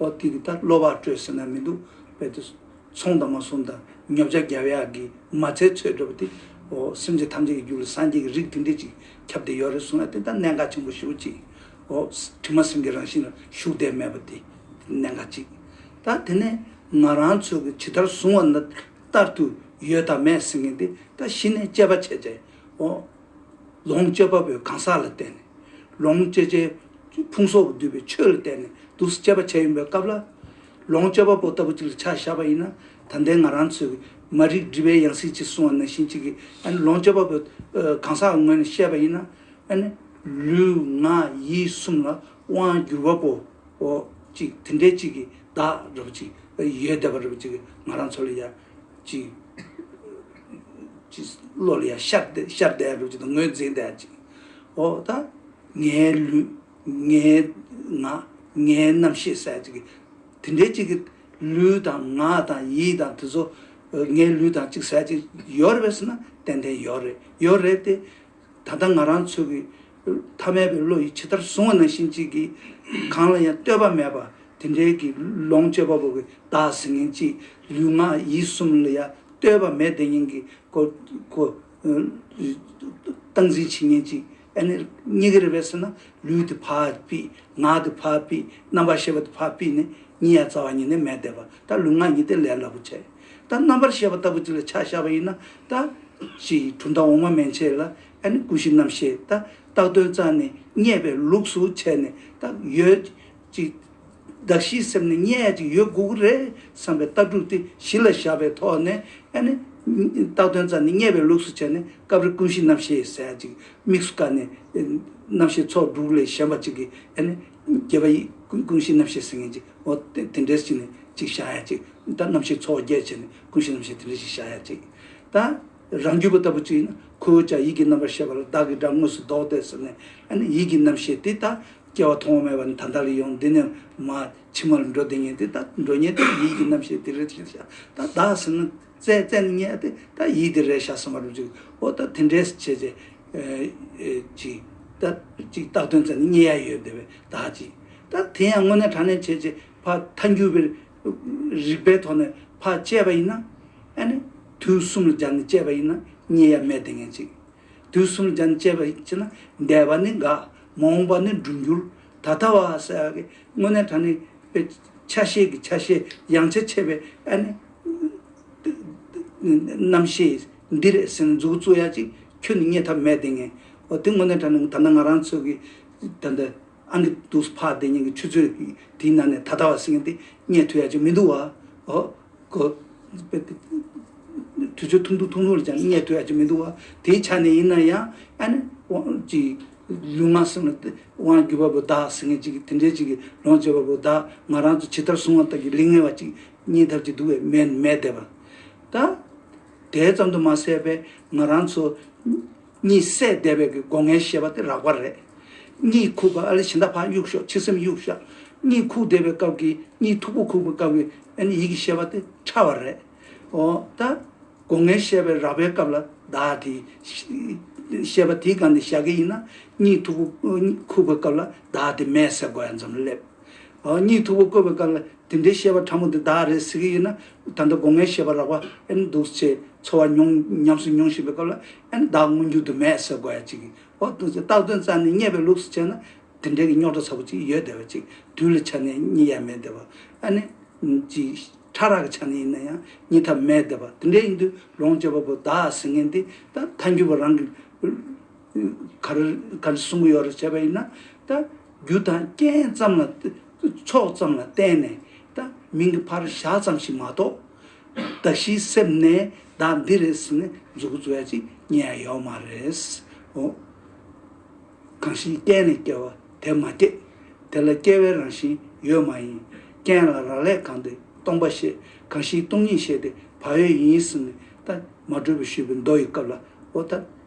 འོ་དེ་གི་ད་བློ་བག་སྤྲོད་ཟེར་ན་མི་འདུག་བས་དེ་ཚོང་དང་མ་གསུང་དང་ཉོབ་ཆགས་བརྒྱབ་ཡ་གི་མ་ཚད་ཚོད་སྤྲོད་པ་དེ་འོ་སེམས་ཅན་ཐམས་ཅད་ཀྱི་རྒྱུད་ལ་སངས་རྒྱས་ཀྱི་རིགས་དེ་འདྲས་ཅིག་ཁྱབ་བདེ་ཡོད་རེད་གསུངས་ཡ་དེ་ད་གནད་འགག་ཆེན་པོ་ཞུ་གཅིག་ཨོ། དྲི་མ་སེམས་ཀྱི་རང་བཞིན་ལ་ཞུགས་བདེ་མེད་པ་དེ་གནད་འགག་གཅིག་ད་དེ་ནས་ང་རང་ཚོས་ཀྱི་ཇི་ལྟར་བཟུང་བ་ན་ལྟར་དུ་ཡོད་དང་མེད་ཟེར་མཁན་དེ་ད་གཞི་ནས་དཔྱད་པ་བྱས་རྗེས་ཨོ། ལོངས་སྤྱོད་པ་པོའི་གང་ཟག་ལ་བརྟེན་ནས་ལོངས་སྤྱོད་བྱའི་ཕུང་སོགས་ཀྱི་བསྡུས་པའི་ཆོས་ལ་བརྟེན་ནས་འདུག་སེ་དཔྱད་པ་བྱས་ཡོང་པའི་སྐབས་ལ། ལོངས་སྤྱོད་པ་པོ་ལྟ་བུ་ཅིག་ལ་ཆ་བཞག་པ་ཡིན་ན་ད་ལྟའི་ང་རང་ཚོས་མ་རིག་སྒྲིབ་པའི་ཡང་སྲིད་ཅིག་བཟུང་བ་ནང་བཞིན་ཅིག་གིས་ལོངས་སྤྱོད་པ་པོ་གང་ཟག་ངོས་ནས་བཤད་པ་ཡིན་ན། ལུས་ངག་ཡིད་གསུམ་ལ་དབང་བསྒྱུར་བ་པོ་ཅིག་དེ་འདྲའི་ཅིག་གི་བདག་རེ་བ་ཅིག་ཡོད་བསྡད་པ་རེ་བ་ཅིག་ང་རང་ཚོ་ལ་ཡང་ཅིག་བློ་ལ་ཡང་ཤར་བསྡད་རེ་བ་ཅིག་དང་ངོས་འཛིན་བསྡད་རེ་བ་ཅིག་ཨོ་ད་ངའི་ལུས། ངའི་ངག་ངའི་རྣམ་ཤེས་སྲད་ཅིག། དེ་འདྲའི་གཅིག་གི། ལུས་དང་ངག་དང་ཡིད་དང་དེ་ཚོ། ངའི་ལུས་དང་གཅིག་སྲད་ཅིག་ཡོད་རེད་བས་ཟེར་ན་ཏན་ཏན་ཡོད་རེད་ཡོད་རེད་དེ། ད་ལྟ་ང་རང་ཚོ་གི། ཐ་མལ་པའི་བློ་ཡིས་ཇི་ལྟར་བཟུང་བ་ནང་བཞིན་གཅིག་གི། གང་ལ་ཡང་ལྟོས་པ་མེད་པར་དེ་འདྲའི་གི་ལོངས་སྤྱོད་པ་པོ་གི་བདག་ཟེར་མཁན་གཅིག་ལུས་ངག་ཡིད་གསུམ་ལ་ཡང་ལྟོས་པ་མེད་བདེན་གཉིས་ཀྱི། སྟངས་འཛིན་བྱེད་མཁན་གཅིག། ཨེ་ནི། གཉི་ག་རེ་བས་སོ་ན་ལུས་དེ་འཕགས་པས་ངག་དེ་འཕགས་པས་རྣམ་པར་ཤེས་པ་དེ་འཕགས་པས་ནི་གཉིས་ཡ་རྩ་བ་ཉིད་ནི་མས་བཟླས་པ་ལྟར་ལུས་ངག་གཉིས་ཏེ་ལས་སླ་པོ་ཆེ། ད་རྣམ་པར་ཤེས་པ་ལྟ་བུ་གཅིག་ལ་ཆ་བཞག་པ་ཡིན་ན་ད། ཞེས་ཡིག་འབྲུ་མདའ་འོག་མ་མན་ཆད་ལ་ཨེ་ནི་ཀུན་གཞི་རྣམ་ཤེས་ད་རྟགས་དོན་རྩ་ནས་རྙེད་པའི་ལུགས་སུ་བྱས་ནས་ད་ཡོད། ཅིག། དགའ་བཞིའི་སེམས་ནི་མཉེས་ཅིག་ཡོད་དགུ་དགུ་རེད་བསམ་པའི་ལྟ་གྲུབ་སྟེ་གཞི་ལ་བཞག་པའི་ཐོག་ནས་ཨ་ནི། རྟགས་དོན་རྩ་ནི་མཉེས་པའི་ལུགས་སུ་བྱས་ནས་སྐབས་རེ་ཀུན་གཞི་རྣམ་ཤེས་ཟད་ཅིག་དམིགས་སུ་བཀར་ནས། རྣམ་ཤེས་ཚོགས་དྲུག་ལས་གཞན་པ་ཅིག་གིས་ཨ་ནི། བརྒྱད་པ་ཡི་ཀུན་གཞི་རྣམ་ཤེས་ཟིན་ངེས་ཅིག་འོ་དེ་འདྲས་ཅིག་ནི་ཅིག་བཞག་ཡ་ཅིག་ད་རྣམ་ཤེས་ཚོགས་བརྒྱད་བྱས་ནས་ཀུན་གཞི་རྣམ་ཤེས་དེ་འདྲས་ཞིག་བཞག་ཡ་ཅིག་ད། རང་རྒྱུད་པ་ལྟ་བུ་ཅིག་ཡིན་ན་ཁོ་བོས་ཀྱང་ཡིད་ཀྱི་རྣམ་པར་ཤེས་པ་ལ་བདག་གི་སྒྲ་དངོས་སུ་བདོག་སྟེ་ཟེར་ནས་ཨ་ནི་ཡིད་ཀྱི་རྣམ་ཤེས་དེ་ད་སྐྱེ་བ་མཐོང་བ་མེད་པ་ནི་ད་ལྟར་ཡང་འདི་ནས་མ་ཕྱི་མར་འགྲོ་དེ་ཉིད་དེ་ལྟ་འགྲོ་ཉེ་དེ་ཡིད་ཀྱི་རྣམ་ཤེས་དེ་རེ་ཞིག་བྱ་ད་བདག་ཟིན་ན་རྩལ་རྩལ་ནི་ཉེ་དེ་ད་ཡིད་དེ་རེ་བྱ་སོང་བ་རུ་འཇུག་གོ་ད་དེ་འདྲའི་བྱེད་རྩལ་གཅིག། ད་གཅིག་བཏགས་དོན་རྩལ་ནི་ཉེ་ཡ་ཡོད་དེ་བས་ད་གཅིག། ད་དེ་ཡང་དངོས་གནས་དྲང་གནས་བྱེད་བྱེད་ཕ་མཐའ་འགྱུར་བའི་རིགས་པའི་ཐོག་ནས་ཕ་བཅད་པ་ཡིན་ན་ཨ་ནི་དུས་གསུམ་ལ་སྦྱར་ནས་བཅད་པ་ཡིན་ན་ཉེ་ཡ་མེད་དེ་ངེས་གཅིག། དུས་གསུམ་རྒྱན་བཅས་པའི་ཕྱིར་ན་འདས་པ་ནི་འགག། མ་འོངས་པ་ནི་འགྲུབ་འགྱུར། ད་ལྟ་བ་ས་ཡ་གི་སྔོན་གནས་དྲ་ནི་པའི་ཆ་ཤས་ཀྱི་ཆ་ཤས་ཡང་ཆ་ཕྱེད་པའི་ཨ་ནི། རྣམ་ཤེས་འདི་རེ་ཟིན་རྫུ་གཙུག་ཡ་གཅིག་ཁྱོད་ནི་རྙེད་ཐབས་མེད་དེ་ངས། དེ་སྔོན་གནས་དྲ་ནི་ད་ལྟ་ང་རང་ཚོད་ཀྱི་ད་ལྟ་ཨང་ཀི་འདུག་ཕ་བདེ་གཉིས་ཀྱི་ཆུ་ཚོད་དེའི་ནང་ནས་ད་ལྟ་བ་ཟིན་གྱི་འདི་རྙེད་ཐུབ་ཡ་གཅིག་མི་འདུག་བ། གོ། དུས་ཚོད་ཐུང་ཐུང་ཐུང་ཐུང་རེ་ཅང་གནས་ཐུབ་ཡག་ཅིག་མི་འདུག་བ། དེའི་ཆ་ནས་ཡིན་ན་ཡང་ཨ་ནི་དབང་ཅིག་ལུས་ངག་སེམས་ལ་དབང་བརྒྱུད་པ་པོ་བདག་ཟེར་མཁན་ཅིག་དེ་འདྲའི་ཅིག་གི་ལོངས་སྤྱད་པ་པོ་བདག་ང་རང་ཚོ་ཇི་ལྟར་བཟུང་བ་ལྟར་གྱི་ལིག་ངེ་བ་ཅིག་རྙེད་ཐབས་ཅིག་འདུག་བས་མེད་མེད་བསྡད་པ། ད། དེ་ཙམ་དུ་མ་ཟད་པས་ང་རང་ཚོ། གཉིད་སད་བདེ་བས་ཀྱི་སྒོ་ངའི་བཤད་པ་དེ་རགས་པ་རེད། གཉིད་ཁུག་པ་ཨ་ལས་བྱེ་མདའ་ཕག་གཡུག་ཤོག་ཕྱི་སེམས་གཡུག་ཤག་གཉིད་ཁུག་བདེ་བའི་སྐབས་ཀྱི་གཉིད་མཐུག་པོ་ཁུག་པའི་སྐབས་ཀྱི་ཨན་ཡིག་གི་བཤད་པ་དེ་ཕྲ་བ་རེད། འོ་ད། སྒོ་ངའི་བཤད་པའི་རགས་པའི་སྐབས་ལ་བདག་གི། བཤད་པ་དེའི་སྒང་ནས་བཞག་གི་ཡིན་ན་གཉིད་མཐུག་པོ་ཁུག་པའི་སྐབས་ལ་བདག་དེ་མེད་ཟེར་དགོས་ཡ་མཚམས་ལ་སླེབས། གཉིད་འཐུག་པོ་བསྐོལ་བའི་སྐབས་ལ་དེ་འདྲའི་བཤད་པ་ཕྲ་མོ་འདི་བདག་རེད་ཟེར་གི་ཡོད་ན་ད་ལྟ་སྒོ་ངའི་བཤད་པ་རགས་པ་ཨེ་འདུག་ཅེས་ཚོར་བ་མྱོང་ཉམས་སུ་མྱོང་བཞིན་པའི་སྐབས་ལ་ཨེ་བདག་དངོས་འགྱུར་དུ་མས་ཟེར་དགོས་ཡ་གཅིག་གི་འོག་ཏུ་ཚེ་རྟགས་དོན་རྩ་ནས་རྙེད་པའི་ལུགས་སུ་བྱས་ན་དེ་འདྲའི་གི་རྙོག་དྲ་ཚ་པོ་ཅིག་ཡོད་བསྡད་པ་ཅིག་དུས་ལ་ཆ་ནས་རྙེད་ཡ་མེད་བསྡད་པ་ཨ་ནི། ཅིག། ཕྲ་རགས་ཀྱི་ཆ་ནས་ཡིན་ན་ཡང་རྙེད་ཐབས་མེད་བསྡད་པ་དེ་འདྲའི་ཡིན་དུས་ལོངས་སྤྱོད་པ་པོ་བདག་ཟེར་མཁན་འདི་ད་མཐའ་འགྱུར་བ་རང་གི། གར་བསྲུང་གི་ཡོ་ར་བྱས་པ་ཡིན་ན་ད་རྒྱུ་དང་རྐྱེན་ཙམ་ལ་ཚོགས་ཙམ་ལ་བརྟེན་ནས་ད་མིང་གི་ཕར་བཞག་ཙམ་ཞིག་མ་གཏོགས། བདག་གཞིའི་སེམས་ནས་བདག་འདི་རེད་ཟེར་ནས་འཛུགས་རྒྱུ་བྱས་ཅིག་ཉན་ཡ་ཡོད་མ་རེད། འོ། གང་ཞིག་རྐྱེན་ལས་སྐྱེ་བ་དེ་མ་སྐྱེས། དེ་ལ་སྐྱེ་བའི་རང་བཞིན་ཡོད་མ་ཡིན། རྐྱེན་ལ་རག་ལས་གང་དེ་སྟོང་པ་ཤེས་གང་ཞིག་སྟོང་ཉིད་ཤེས་དེ་བག་ཡོད་ཡིན་ཟེར་ནས་ད་མ་གྲོལ་བའི་ཤུལ་བུའི་མདོ་ཡི་སྐབས་ལ་འོ་ད།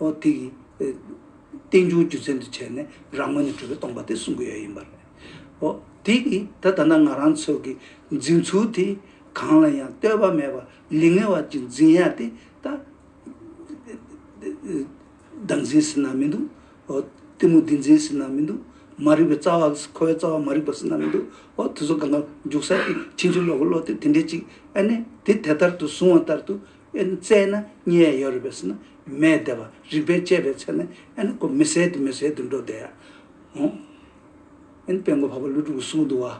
ཨོ་དེ་ཡིས། རྟེན་འབྱུང་རྒྱུ་མཚན་དུ་བྱས་ནས་རང་ངོས་ནས་གྲུབ་པའི་སྟོང་པ་དེ་གསུང་གི་ཡོད་ཡིན་པ་རེད། ཨོ་དེ་ཡིས་ད་ད་ནངས་རང་ཚོད་ཀྱི་འཛིན་ཚུལ་དེ་གང་ལ་ཡང་ལྟོས་པ་མེད་པར་ལིག་ངེ་བར་གྱི་འཛིན་ཡ་དེ་ད་བདག་འཛིན་ཟིན་ན་མི་འདུག་ཨོ་གཏི་མུག་འདི་འཛིན་ཟིན་ན་མི་འདུག་མ་རིག་པའི་རྩ་བ་འཁོར་བའི་རྩ་བ་མ་རིག་པ་ཟིན་ན་མི་འདུག་ཨོ་དེ་ཚོ་གང་ག་རྒྱུག་ས་དེ་ཕྱིན་ཅི་ལོག་གི་བློ་དེ་དེ་འདྲའི་ཅིག་ཨ་ནི་དེ་དེ་ལྟར་དུ་བཟུང་བ་ལྟར་དུ། ཨེ་ནི་བཙས་ན་གཉིད་ཡ་ཡོད་རེད་པས་སེ་ན་མེད་བསྡད་པ་རིག་པས་དཔྱད་པའི་ཚེ་ན་ཨེ་ནི་ཀོ་མི་ཟེད་དེ་མི་ཟེད་དུ་འགྲོ་བསྡད་ཡ་ཨོ། ཨེ་ནི་དཔེ་མགོ་བར་པ་ལུས་དྲུག་གི་ཟུང་དུ་བ།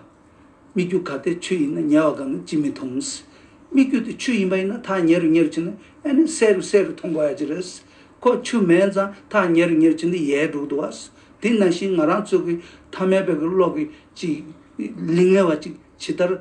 སྨིག་རྒྱུ་ག་དེ་ཆུ་ཡིན་ན་ཉལ་བ་ག་ནི་ཅི་མི་མཐོང། སྨིག་རྒྱུ་དེ་ཆུ་ཡིན་པ་ཡིན་ན་ཐག་ཉེ་རུ་ཉེ་རུ་ཕྱིན་ན་ཨེ་ནི་སེ་རུ་སེ་རུ་མཐོང་དགོས་ཡ་ཅི་རེད། ཁོ་ཆུ་མེད་ཙང་ཐག་ཉེ་རུ་ཉེ་རུ་ཕྱིན་ཏེ་ཡའི་འབྲུག་ཏུ་བ། དེ་ན་བཞིན་ང་རང་ཚོ་གི་ཐ་མལ་པའི་གི་གློག་གི་ཅིག་ལིང་ངེ་བ་ཅིག་ཇི་ལྟར་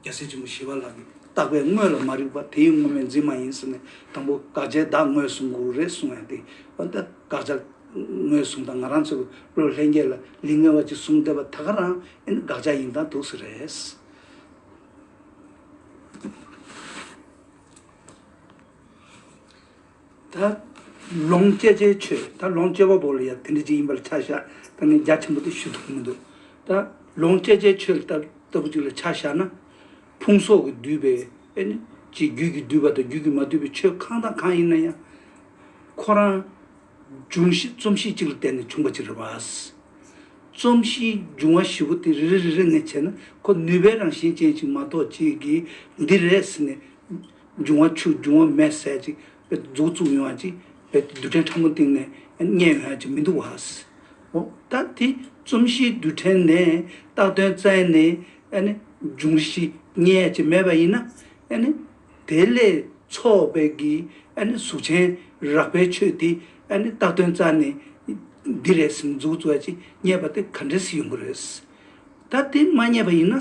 རྒྱལ་སྲས་ཆེན་པོ་ཞི་བ་ལགས་ཀྱིས་བརྟགས་པས་དངོས་ལ་མ་རིག་པ་དེའི་དངོས་མེད་འཛིན་མ་ཡིན་ཟེར་ནས་དང་པོ་དགག་བྱའི་བདག་དངོས་བཟུང་དགོས་རེད་གསུངས་ཡང་དེ་ལྟ་དགག་བྱ་ངོས་བཟུང་དང་ང་རང་ཚོའི་བློས་ལྷན་སྐྱེས་ལ་ལིང་ངེ་བ་ཅིག་བཟུང་བསྡད་པ་ད་ག་རང་ཨེ་འདི་དགག་བྱ་ཡིན་དང་དུག་སེལ་རེད། ད་ལོངས་སྤྱད་བྱའི་ཆོས་ད་ལོངས་སྤྱད་པ་པོ་ལ་ཡང་དེ་འདྲ་ཅིག་ཡིན་པ་ལ་ཆ་བཞག་ད་ངས་རྒྱ་ཆེན་པོ་དེ་ཞུ་ཐུབ་ཀྱི་མི་འདུག་ད་ལོངས་སྤྱད་བྱའི་ཆོས་ལ་ལྟ་བུ་ཅིག་ལ་ཆ་བཞག་ན། ཕུང་སོགས་ཀྱིས་བསྡུས་པའི་ཨེ་ནི་ཅིག་རྒྱུད་ཀྱིས་བསྡུས་པ་དང་རྒྱུད་ཀྱིས་མ་བསྡུས་པའི་ཆོས་གང་དང་གང་ཡིན་ན་ཡང། ཁོ་རང་འབྱུང་བཞི་རྩོམ་གཤིས་གཅིག་ལ་བརྟེན་ནས་བྱུང་བ་ཅིག་རེད། རྩོམ་གཤིས་འབྱུང་བ་བཞི་པོ་དེ་རེ་རེ་རེ་རེ་ངས་བྱས་ན་ཁོ་ནུས་པའི་རང་བཞིན་ཅན་ཞིག་མ་གཏོགས་ཅིག་གིས་འདི་རེད་ཟེར་ནས་འབྱུང་བ་ཆུ་འབྱུང་བ་མེས་བསྲེག་ཅིག། རྫོགས་ཚུགས་ཡོང་བ་ཅིག། རྡུལ་ཕྲན་ཕྲ་མོ་སྟེང་ནས་རྙེད་ཡོང་བ་ཅིག་མི་འདུག་བཱ། འོ། ད་དེ་རྩོམ་གཞིའི་རྡུལ་ཕྲན་ནས་བཏགས་དོན་བཙལ་ནས། འབྱུང་གཞི་རྙེད་ཡ་ཅིག་མེད་པ་ཡིན་ན། དེ་ལས་ཚོགས་པའི་གི་གཟུགས་ཆེན་རགས་པའི་ཆོས་དེ་བཏགས་དོན་བཙལ་ནས། འདི་རེད་སེམས་རྫོགས་ཚུགས་ཡ་ཅིག་རྙེད་པ་དེ་ག་འདྲས་སུ་ཡོང་གི་རེད། ད་དེ་མ་རྙེད་པ་ཡིན་ན།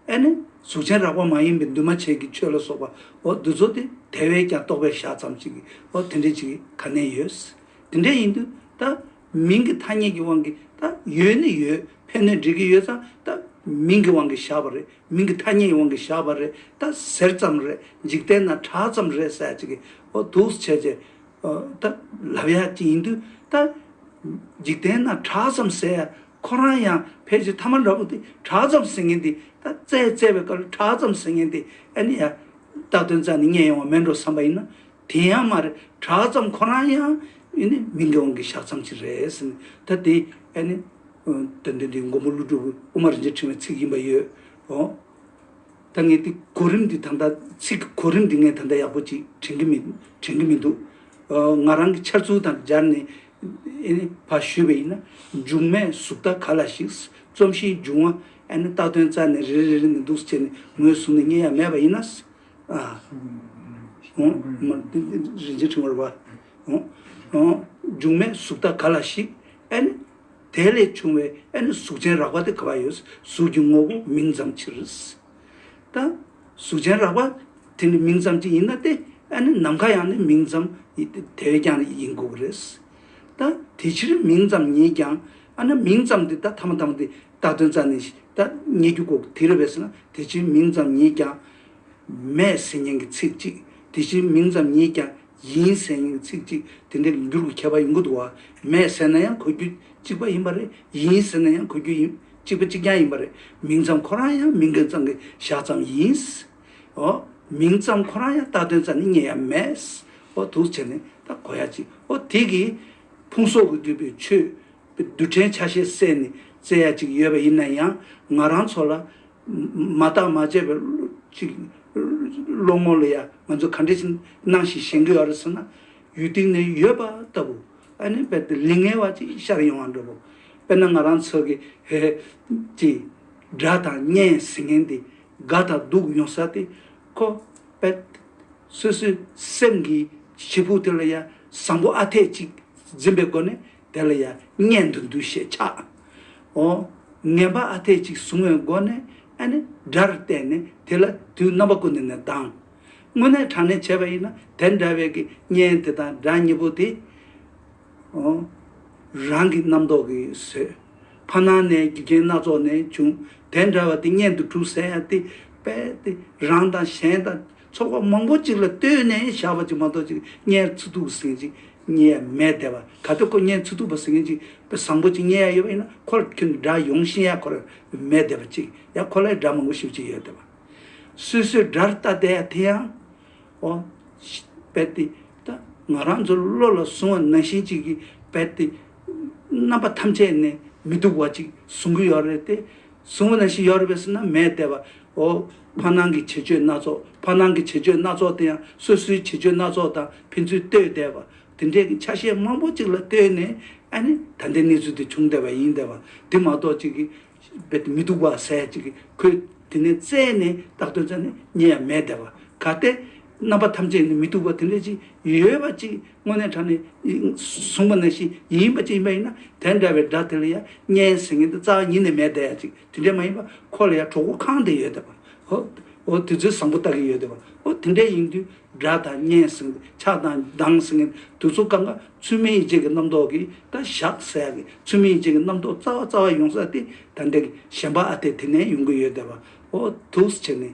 ཨེ་ནི། གཟུགས་ཅན་རགས་པ་མ་ཡིན་པའི་འདུས་མ་བྱས་ཀྱི་ཆོས་ལ་སོགས་པ། འོ་འདུ་ཚོགས་ཏེ་དེ་བས་ཀྱང་རྟོགས་པའི་ཞག་ཙམ་ཞིག་གིས་འོ་དེ་འདྲའི་ཅིག་ག་ནས་ཡོད། དེ་འདྲ་ཡིན་དུས་ད། མིང་གི་ཐ་སྙད་ཀྱི་དབང་གིས་ད་ཡོད་ནི་ཡོད་ཕན་ནི་འགྲིག་གི་ཡོད་ཙང་ད་མིང་གི་དབང་གིས་བཞག་པ་རེད་མིང་གི་ཐ་སྙད་ཀྱི་དབང་གིས་བཞག་པ་རེད་ད་ཟེར་ཙམ་རེད་འཇིག་རྟེན་ན་གྲགས་ཙམ་རེད་ཟེར་ཅིག་གིས་འོ་འདུག་བྱས་རྗེས་ད་ལབ་ཡ་ཅི་ཡིན་དུས་ད། འཇིག་རྟེན་ན་གྲགས་ཙམ་བསལ་ཡ་ཁོ་རང་ཡང་ཕལ་ཆེར་ཐ་མ་འདྲ་པོ་དེ་གྲགས་ཙམ་བསལ་མཁན་དེ་ད་བཙལ་བཙལ་བའི་སྐབས་ལ་གྲགས་ཙམ་བསལ་མཁན་དེ་ཨེ་ནི་ཡ། རྟགས་དོན་རྩ་ནས་རྙེད་ཡོང་བ་མེད་འགྲོ་བསམ་པ་ཡིན་ན། དེ་ཡང་མ་རེད་གྲགས་ཙམ་ཁོ་རང་ཡང། ཨེ་ནི་མི་འགེ་འོང་གི་བཞག་མཚམས་ཅིག་རེད་ཟེར་ནས་ད་དེ་ཨེ་ནི། དོན་དེ་འདི་མགོན་པོ་ཀླུ་སྒྲུབ་ཀྱི་དབུ་མ་རིན་ཆེན་ཕྲེང་བའི་ཚིག་ཡིན་པ་ཡོད། ད་ངས་དེ་གོ་རིམ་འདི་ད་ལྟ་ཚིག་གི་གོ་རིམ་འདི་ངས་ད་ལྟ་ཡག་པོ་ཅིག་དྲན་གི་མི་དྲན་གི་མི་འདུག་ང་རང་གི་འཆར་ཚུལ་དང་སྦྱར་ནས་བ་ཞུས་པ་ཡིན་ན་འབྱུང་མའི་གཟུགས་ད་ག་ལ་ཞིག་རྩོམ་གཤིས་འབྱུང་བ་ཨེ་ན་རྟགས་དོན་རྩ་ནས་རེ་རེ་མི་འདུག་ཟེར་ནས་ངོས་བཟུང་ནས་རྙེད་ཡ་མེད་པ་ཡིན་ན། རིན་ཆེན་འཕྲེང་བར་བ། འབྱུང་མའི་གཟུགས་ད་ག་ལ་ཞིག་ཨེ་ན། དེ་ལས་བྱུང་བའི་ཨ་ནི་གཟུགས་ཅན་རགས་པ་སྟེ་ག་བ་ཡོད་གཟུགས་ཀྱི་ངོ་བོ་མིང་ཙམ་ཕྱིར། དང། གཟུགས་ཅན་རགས་པ་དེ་ནི་མིང་ཙམ་གྱི་ཡིན་ན་སྟེ་ཨ་ནི་ནམ་མཁའ་ཡང་ནི་མིང་ཙམ་དེ་བས་ཀྱང་ཡིན་དགོས་ཀྱི་རེད། དང། དེ་ཕྱིར་མིང་ཙམ་ཉིད་ཀྱང་ཨ་ན་མིང་ཙམ་དེ་ད་ཐ་མ་ཐ་མ་དེ་ད་དོན་རྩ་ནས་ད་རྙེད་རྒྱུ་དགོས་ཀྱི་དེ་རེད་བས་ཟེར་ན་དེ་ཕྱིར་མིང་ཙམ་ཉིད་ཀྱང། མས་ཟེར་མཁན་གྱི་ཚིག་གཅིག་དེ་ཕྱིར་མིང་ཙམ་ཉིད་ཀྱང། ཡིན་ཟེར་ཡིན་གྱི་ཚིག་གཅིག་དེ་འདྲས་མི་འགྱུར་གྱི་ཁྱད་པར་ཡིན་གྱི་འདུག་བ། མེད་ཟེར་ན་ཡང་གོ་རྒྱུ་གཅིག་པ་ཡིན་པ་རེད། ཡིན་ཟེར་ན་ཡང་གོ་རྒྱུ་ཡིན་གཅིག་པ་གཅིག་རྐྱང་ཡིན་པ་རེད། མིང་ཙམ་ཁོ་རང་ཡང་མིང་གི་གཙང་གི་བཞག་ཙམ་ཡིན། ཨོ། མིང་ཙམ་ཁོ་རང་ཡང་ལྟ་དོན་རྩ་ནི་རྙེད་ཡ་མེད། ཨོ། དུག་བྱས་ནས་ད་གོ་ཡ་ཅི། ཨོ། དེ་གིས། ཕུང་སོགས་ཀྱིས་བསྡུས་པའི་ཆོས། པའི་རྡུལ་ཕྲན་ཆ་ཤས་བསྲེས་ནས་བཙལ་ཡ་ཅིག་ཡོད་པ་ཡིན་ན་ཡང། ང་རང་ཚོ་ལ། མ་བརྟག་མ་དཔྱད་པའི་བློ་ངོར་ལ་ཡང་ང་ཚོས་ག་འདྲའི་སྣང་ཞིག་ཞེན་གྱི་ཡོད་རེད་ཟེར་ན། ཡུལ་སྟེང་ནས་ཡོད་པ་ལྟ་བུ། ཨ་ནི་རྦད་དེ་ལིང་ངེ་བ་ཅིག་ཤར་ཡོང་བར་འདོད་པོ། དཔེར་ན་ང་རང་ཚོ་གི་ཧེ་ཧེ། ཀྱི། དགྲ་དང་གཉེན་ཟེར་མཁན་འདི། དགའ་དང་སྡུག་ཡོང་ས་དེ། ཁོ། རྦད། སོ་སོའི་སེམས་ཀྱི། བྱེད་ཕུག་དེ་ལ་ཡང་བཟང་པོ་ཨ་འཐས་ཅིག་འཛིན་པའི་སྒོ་ནས། དེ་ལ་ཡང་གཉེན་དུ་འདུ་ཤེས་ཆགས། ངན་པ་ཨ་འཐས་གཅིག་བཟུང་བའི་སྒོ་ནས་ཨ་ནི་དགྲར་བལྟས་ནས་དེ་ལ་དུས་རྣམ་པ་ཀུན་ནས་ནས་ལྡང། དངོས་གནས་དྲང་གནས་བྱས་པ་ཡིན་ན་དེ་འདྲ་བའི་གི་གཉེན་དེ་དང་དགྲ་གཉིས་པོ་དེ། རང་གི་རྣམ་རྟོག་གི་བཟོད། ཕ་ནང་ནས་རྒྱུ་རྐྱེན་སྣ་ཚོགས་ནས་བྱུང་དེ་འདྲ་བ་དེ་གཉེན་དུ་གྲུབ་ཟེར་ཡང་དེ་པས་དེ་རང་དང་གཞན་དང། ཚོར་བ་མང་པོ་གཅིག་ལ་ལྟོས་ནས་བཞག་པ་ཅིག་མ་གཏོགས་ཅིག་བརྙན་ཚུ་ཐུག་གི་ཟིན་ཅིག་རྙེད་ཡ་མེད་དེ་བ་ག་དུས་ཁོ་བརྙན་ཚུ་ཐུག་པ་ཟིན་མཁན་ཅིག་བཟང་པོ་ཅིག་རྙེད་ཡ་ཡོད་པ་ཡིན་ན་ཁོ་ལ་ཁྱོད་ཀྱི་སྒྲ་ཡོང་བཞིན་ཡ་ཁོ་ལ་མེད་དེ་བ་ཅིག་ཡ་ཁོ་ལས་སྒྲ་མང་པོ་ཞིབ་ཅིག་ཡོད་དེ་བ། སུས་སུའི་སྒྲར་ལྟ་བསྡད་ཡ་དེ་ཡང། འོ། རྦད་དེ། ད་ང་རང་ཚོ་བློ་ལ་བཟུང་བ་ན་བཞིན་ཅིག་གིས་རྦད་དེ། རྣམ་པ་ཐམས་ཅད་ནས་མི་སྡུག་བ་ཅིག་བཟུང་གི་ཡོད་རེད་དེ། གཟུང་བ་ན་ཤི་ཡོར་བས་སུ་ན་མས་བལྟས་པའོ། ཕ་སྣང་གི་བྱེད་སྤྱོད་སྣ་ཚོགས་ཕ་སྣང་གི་བྱེད་སྤྱོད་སྣ་ཚོགས་དེ་ཡང་སོ་སོའི་བྱེད་སྤྱོད་སྣ་ཚོགས་དང་ཕན་ཚུན་ལྟོས་བསྡད་པ། དེ་འདྲའི་གི་ཆ་ཤས་མང་པོ་གཅིག་ལ་ལྟོས་ནས་ཨ་ནི་ད་ལྟའི་གནས་ཚུལ་དེ་བྱུང་བསྡད་པ་ཡིན་བསྡད་པ་དེ་མ་གཏོགས་ཅིག་གི་རྦད་དེ་མི་སྡུག་པ་ཟད་ཅིག་གི་ཁོས་དེ་ནས་བཙལ་ནས་བརྟག་དོན་ཙམ་ནི་རྙེད་ཡ་མེད་བསྡད་པ་ག་སྟེ། རྣམ་པ་ཐམས་ཅད་ནི་མི་སྡུག་པ་དེ་འདྲ་ཅིག་ཡོད་པ་ཅིག་དངོས་གནས་དྲ་ནས་གསུངས་པ་ནང་བཞིན་ཡིན་པ་ཅིག་ཡིན་པ་ཡིན་ན་དེ་འདྲ་བའི་སྒྲ་དེ་ལ་ཡང་སྙན་ཟེར་མཁན་དེ་རྩ་བ་ཉིད་ནས་མེད་བསྡད་ཡ་ཅིག་དེ་འདྲས་མ་ཡིན་པར་ཁོ་ལ་ཡང་གྲོགས་པོ་གང་དེ་ཡོད་བསྡད་པ་འོ་དེ་ཚོས་བཟང་པོ་ལྟ་གི་ཡོད་བསྡད་པ་འོ་དེ་འདྲས་ཡིན་དུས་སྒྲ་དང་སྙན་ཟེར་མཁན་དེ་ཆགས་དང་སྡང་ཟེར་མཁན་དེ་དུས་ཚོད་སྐབས་འགར་ཚུལ་མིན་ཡིད་བྱེད་ཀྱི་རྣམ་རྟོག་གིས་ད་བཞག་ཟེར་ཡ་གི་ཚུལ་མིན་ཡིད་བྱེད་ཀྱི་རྣམ་རྟོག་རྩ་བ་རྩ་བ་ཡོང་ས་དེ་ད་འདྲས་གི་གཞན་པ་ཨ་དེ་དེ་ནས་ཡོང་གི་ཡོད་བསྡད་པ་འོ་དུས་ཕྱི་ནས་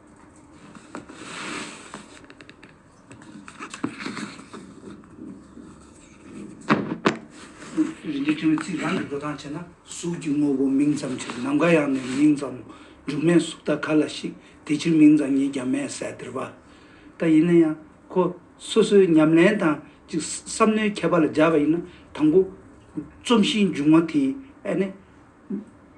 རིགས་འདི་ཐུན་ཚིག་རང་གིས་འགྲོ་སྟངས་བྱས་ན། གཟུགས་ཀྱི་དངོས་པོ་མིང་ཙམ་ཕྱིར་ནམ་མཁའ་ཡང་མེད་མིང་ཙམ་མོ། འཇུག་མེད་གཟུགས་ལྟ་ག་ལ་ཞིག་དེ་ཕྱིར་མིང་ཙམ་ཉིད་ཀྱང་མེད་ཟད་སྟེར་བ། ད་ཡིན་ན་ཡང་ཁོ་སོ་སོའི་ཉམས་ལེན་དང་གཅིག་བསམ་མནོའི་ཁྱད་པར་ལ་སྦྱར་བ་ཡིན་ན་དང་པོ། རྩོམ་གཞིའི་འབྱུང་བ་དེ་ནི།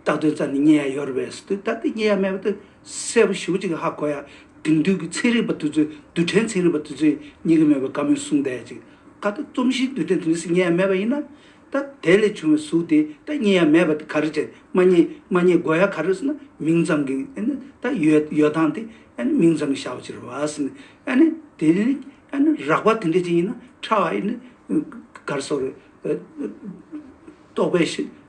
རྟག་ཏུ་རྩ་ནི་རྙེད་ཡ་ཡོར་བས་སུ་རྟག་ཏུ་རྙེད་ཡ་མེད་པ་དུ་གསལ་པོ་ཞུ་བ་ཅིག་ཧ་གོ་ཡ་དེང་དུས་ཀྱི་ཚན་རིག་པ་དེ་ཚོས་རྡུལ་ཕྲན་ཚན་རིག་པ་དེ་ཚོས་རྙེད་ཀྱི་མེད་པའི་བཀའ་མོལ་གསུང་བསྡད་ཅིག་ཀ་ཏུ་རྩོམ་གཞིའི་རྡུལ་ཕྲན་དེ་འདི་སུ་རྙེད་ཡ་མེད་པ་ཡིན་ན་ད་དེ་ལས་བྱུང་བའི་གཟུགས་དེ་ད་རྙེད་ཡ་མེད་པ་དེ་ག་རེ་བྱས་མ་རྙེད་མ་རྙེད་གོ་ཡ་ག་རེ་སུ་ན་མིང་ཙམ་གྱི་ཨ་ནི་ད་ཡོད་ཡོད་སྟངས་དེ་ཨ་ནི་མིང་ཙམ་གྱི་བྱ་བ་བྱེད་རོགས་ཨ་སི་ནི་ཨ་ནི་དེ་ནི་ཨ་ནི་རགས་པ་དེ་འདྲ་ཅིག་ཡིན་ན་ཕྲ་བ་ཨི་ནི་གར་སོགས་རེད་རྟོགས་པའི་ཤེས།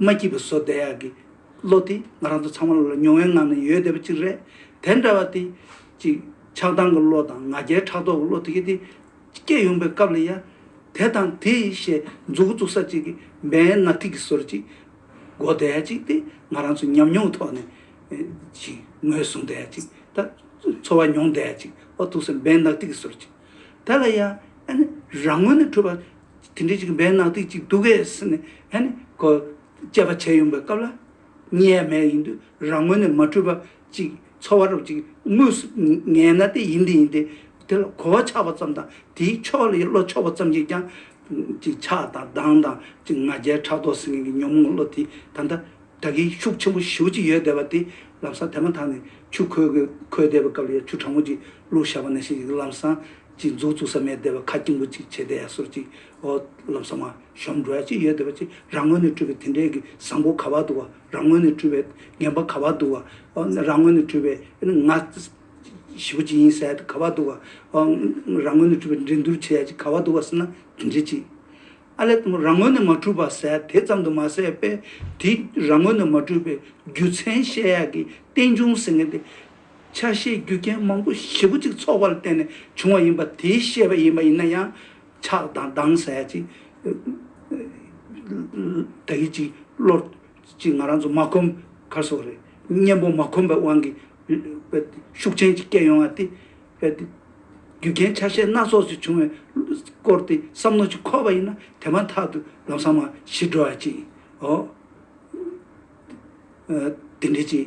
མ་སྐྱིད་པ་བཟོ་བསྡད་ཡག་གི། བློ་དེ་ང་རང་ཚོ་ཚང་མ་ལ་མྱོང་བའི་ངང་ནས་ཡོད་བསྡད་པ་ཅིག་རེད། དེ་འདྲ་བ་དེ། ཅིག། ཆགས་སྡང་གི་བློ་དང་ང་རྒྱལ་ཕྲག་དོག་གི་བློ་དེ་གས་དེ། སྐྱེས་ཡོང་པའི་སྐབས་ལ་ཡ། དེ་དང་དེ། ཞེས་མཛུ་གུ་བཙུགས་ས་ཅིག་གི་སྦན་ནག་ཐིག་གི་ཟོར་ཅིག། མགོ་བསྡད་ཡག་ཅིག་སྟེ་ང་རང་ཚོ་ཉམས་མྱོང་ཐོག་ནས། ཅིག། ངོས་བཟུང་བསྡད་ཡག་ཅིག་ད། འཚོ་བ་མྱོང་བསྡད་ཡག་ཅིག་འོ་ཐུག་སའི་སྦན་ནག་ཐིག་གི་ཟོར་ཅིག། དེ་ལ་ཡ། ཨ་ནི། རང་ངོས་ནས་འཁྲུལ་པ། དེ་འདྲའི་ཅིག་འབེན་ནག་ཏིག་ཅིག་འདུག་གས་ཟེར་ནས་ཧད་ནས་ཁོ་དཔྱད་པ་བྱས་ཡོང་པའི་སྐབས་ལ། གཉིད་ཡ་མེད་ཡིན་དུས་རང་ངོས་ནས་མ་འཁྲུལ་པ་ཅིག་ཚོར་བ་རུ་ཅིག་ངུས་སུ་ངས་ན་དེ་ཡིན་དེ་ཡིན་ཏེ་དེ་ལ་གོ་བ་ཆགས་པ་ཙམ་དང་དེའི་ཕྱོགས་ལ་བློ་ཕྱོགས་པ་ཙམ་གྱིས་ཀྱང། ཅིག་ཆགས་དང་སྡང་དང་ཅིག་ང་རྒྱལ་ཕྲག་དོག་ཟེར་མཁན་གྱི་ཉོན་མོངས་བློ་དེ་ད་ལྟ་ད་གིན་ཤུགས་ཆེན་པོ་ཞིའུ་ཅིག་ཡོད་བསྡད་པ་དེ་ལམ་སང་དེ་མ་ཐག་ནས་ཆུ་ཁོལ་གོལ་བསྡད་པའི་སྐབས་ལ་ཡང་ཆུ་གྲང་མོ་ཅིག་བླུགས་བཞག་པ་ན་ཤིག་ལམ་སང་ཅིག་མཛོད་བཙུགས་ས་མའི་སྡེ་བ་ཁ་སྐྱིང་པོ་ཅིག་བྱས་ཏེ་ཡ་སོར་ཅིག་ཨོ་ལམ་ས་མ་ཤོམ་འགྲོ་ཡ་ཅིག་ཡོད་སྡེ་བ་ཅིག་རང་ངོས་ནས་སྤྲུལ་པའི་དེ་འདྲའི་གི་བཟང་པོ་ག་བ་འདུག་བ་རང་ངོས་ནས་སྤྲུལ་པའི་ངན་པ་ག་བ་འདུག་བ་ཨོ་རང་ངོས་ནས་སྤྲུལ་པའི་ང་ཞི་བོ་ཅིག་ཡིན་ས་ཡ་ག་བ་འདུག་བ་ཨོ་རང་ངོས་ནས་སྤྲུལ་པའི་འགྲན་སྡུར་བྱེད་ཡ་ཅིག་ག་བ་འདུག་བ་སེ་ན་དེ་འདྲའི་ཅིག་ཨ་ལས་དང་པོ་རང་ངོས་ནས་མ་སྤྲུལ་པ་ས་ཡ་དེ་ཙམ་དུ་མ་ཟད་པས་དེ་རང་ངོས་ནས་མ་སྤྲུལ་པའི་རྒྱུ་མཚན་བཤད་ཡ་གི་རྟེན་འབྱུང་ཟེར་ངེས་ཏེ། ཆ་ཤས་རྒྱུ་རྐྱེན་མང་པོ་བཞི་པོ་གཅིག་ཚོགས་པ་ལ་བརྟེན་ནས་བྱུང་བ་ཡིན་པ་དེའི་ཤེས་པ་ཡིན་པ་ཡིན་ན་ཡང། ཆགས་དང་སྡང་ཟ་ཡ་ཅིག། དགྲ་ཡི་ཅིག་བློར་ཅིག་ང་རང་ཚོ་མ་གོམས་ཁར་སོགས་རེད། གཉེན་པོ་མ་གོམས་པའི་དབང་གིས། ཤུགས་ཆེན་གྱིས་བསྐྱལ་ཡོང་བ་སྟེ། རྒྱུ་རྐྱེན་ཆ་ཤས་སྣ་ཚོགས་སུ་བྱུང་བའི་སྐོར་དེ་བསམ་མནོ་ཅིག་འཁོར་བ་ཡིན་ན་དེ་མ་ཐག་ཏུ་ལམ་སང་མ་ཤི་འགྲོ་བ་ཅིག་འོ། དེ་འདྲའི་ཅིག་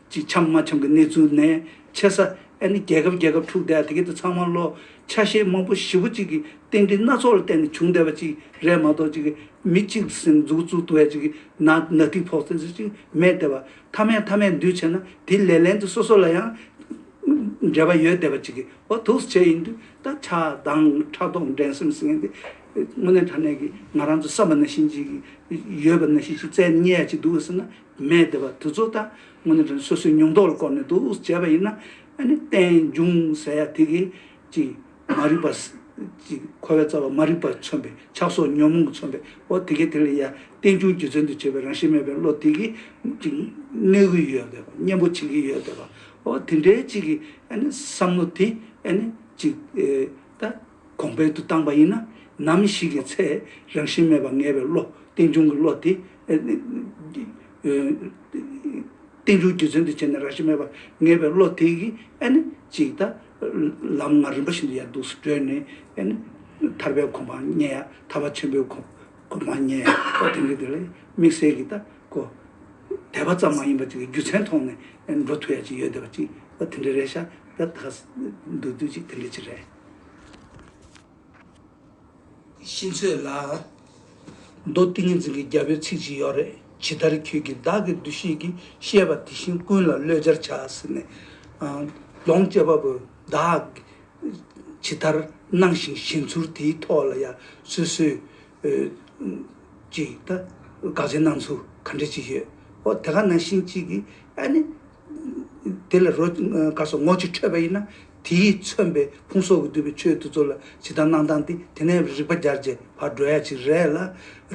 གཅིག་འཆམ་མ་འཆམ་གི་གནས་ཚུལ་ནས་ཆེ་ས་ཨེ་ནི་རྒྱལ་ཁབ་རྒྱལ་ཁབ་འཁྲུག་བསྡད་དེ་གས་དེ་ཚང་མ་ལོ་ཆ་ཤས་མང་པོ་བཞི་བོ་གཅིག་གི་རྟེན་འབྲེལ་སྣ་ཚོགས་ལ་བརྟེན་ནས་བྱུང་བསྡད་པ་གཅིག་རེད་མ་གཏོགས་གཅིག་གས་མི་གཅིག་གི་སེམས་འཛུགས་བཙུགས་ཏུ་བས་གཅིག་གི་ན་ན་ཏིག་ཕོག་ཚད་ཟེར་གཅིག་མེད་བསྡད་པ་མཐའ་མའི་མཐའ་མས་འདུས་བྱས་ན་དེ་ལས་ལན་དུ་སོ་སོ་ལ་ཡང་འབྲེལ་བ་ཡོད་བསྡད་པ་གཅིག་གིས་འོ་ཐུགས་སུ་བྱས་ཡིན་དུས་ད་ཆ་དང་ཕྲག་དོག་འགྲན་སེམས་ཟེར་མཁན་དེ་དངོས་གནས་ཕྲ་གནས་ཀྱི་ང་རང་ཚོ་བསམ་པ་ན་ཤིན་ཅིག་ཡོད་པ་ན་ཤིན་ཅིག་བཙལ་ཉེ་ཡ་གཅིག་འདུག་ཟེར་ན་མས་འདི་བ་དུ་ཚོ་ད་ངོ་ནས་དྲན་སོ་སོའི་མྱོང་རྟོགས་ལ་བསྐོར་ནས་འདུག་བྱས་པ་ཡིན་ན་ནི་རྟེན་འབྱུང་ཟེར་ཡ་དེ་གི་ཅིག་མ་རིག་པ་ཅིག་འཁོར་བའི་རྩ་བ་མ་རིག་པ་མཚོན་པའི་ཆགས་སོགས་ཉོན་མོངས་མཚོན་པའི་འོ་དེ་གས་དེ་ལ་ཡ་རྟེན་འབྱུང་རྒྱུ་མཚན་དུ་བྱས་པའི་རང་བཞིན་མེད་པའི་བློ་དེ་གི་ཅིག་གནོད་གི་ཡོད་དེ་གཉེན་པོ་བྱེད་ཀྱི་ཡོད་དེ་བ་འོ་དེ་འདྲའི་ཅིག་གི་བསམ་བློ་དེ་ནི་ཅིག་ད། གོང་སྤེལ་དུ་བཏང་པ་ཡིན་ན། ནམ་ཞིག་གི་ཚེ་རང་བཞིན་མེད་པར་ངེས་པའི་བློ་རྟེན་འབྱུང་གི་བློ་དེ། རྟེན་འབྱུང་རྒྱུ་མཚན་དུ་བྱས་ནས་རང་བཞིན་མེད་པར་ངེས་པའི་བློ་དེ་གིས་ཨ་ནི་ཅིག་ད། ལམ་ང་རིམ་པ་བཞིན་དུ་ཡར་འདུག་སུ་བགྲོད་ནས་ཨ་ནི། ཐར་པའི་གོ་འཕང་བརྙེས་ཡ་ཐར་པ་ཆེན་པོའི་གོ་འཕང་བརྙེས་ཡ་ཨོ་དེ་འདྲའི་དེ་ལ་དམིགས་བསལ་གྱི་ད་གོ། དད་པ་ཙམ་མ་ཡིན་པར་ཅིག་རྒྱུ་མཚན་མཐོང་ནས་འགྲོ་ཐུབ་ཡ་ཅིག་ཡོད་བསྡད་པ་ཅིག་ཨོ་དེ་འདྲའི་རེད་ཤག་ད་ད་ག་འདུག་དུས་ཅིག་དེ་འདྲའི་ཅིག་རེད། ཤིང་ཚོད་ལ། མདོ་ཏིང་ངེ་འཛིན་གྱི་རྒྱ་བོད་ཚིག་ཅིག་ཡོད་རེད་ཇི་ལྟར་ཁྱོད་ཀྱིས་བདག་གི་འདུ་ཤེས་ཀྱིས་བཤད་པ་དེ་བཞིན་ཀུན་ལ་བློས་སྦྱར་བྱ་ཟེར་ནས། ལོངས་སྤྱད་པ་པོ་བདག་ཇི་ལྟར་སྣང་ཞིང་ཞེན་ཚུལ་དེའི་ཐོག་ལ་ཡང་སོ་སོས་ཀྱིས་ད་དགག་བྱའི་སྣང་ཚུལ་ག་འདྲ་ཅིག་ཡོད་འོ་དེ་ག་ན་ཤིང་གཅིག་གིས་ཨ་ནི། དེ་ལ་རོ་དཀར་སོགས་ངོ་གཅིག་འཕྲོད་པ་ཡིན་ན་དེས་མཚོན་པའི་ཕུང་སོགས་ཀྱིས་བསྡུས་པའི་ཆོས་དེ་ཚོ་ལ་ཇི་ལྟར་སྣང་སྟངས་དེ་དེ་ནས་རིག་པ་བརྒྱར་བརྗེས་བར་འགྲོ་ཡ་ཅིག་རེད་ལ།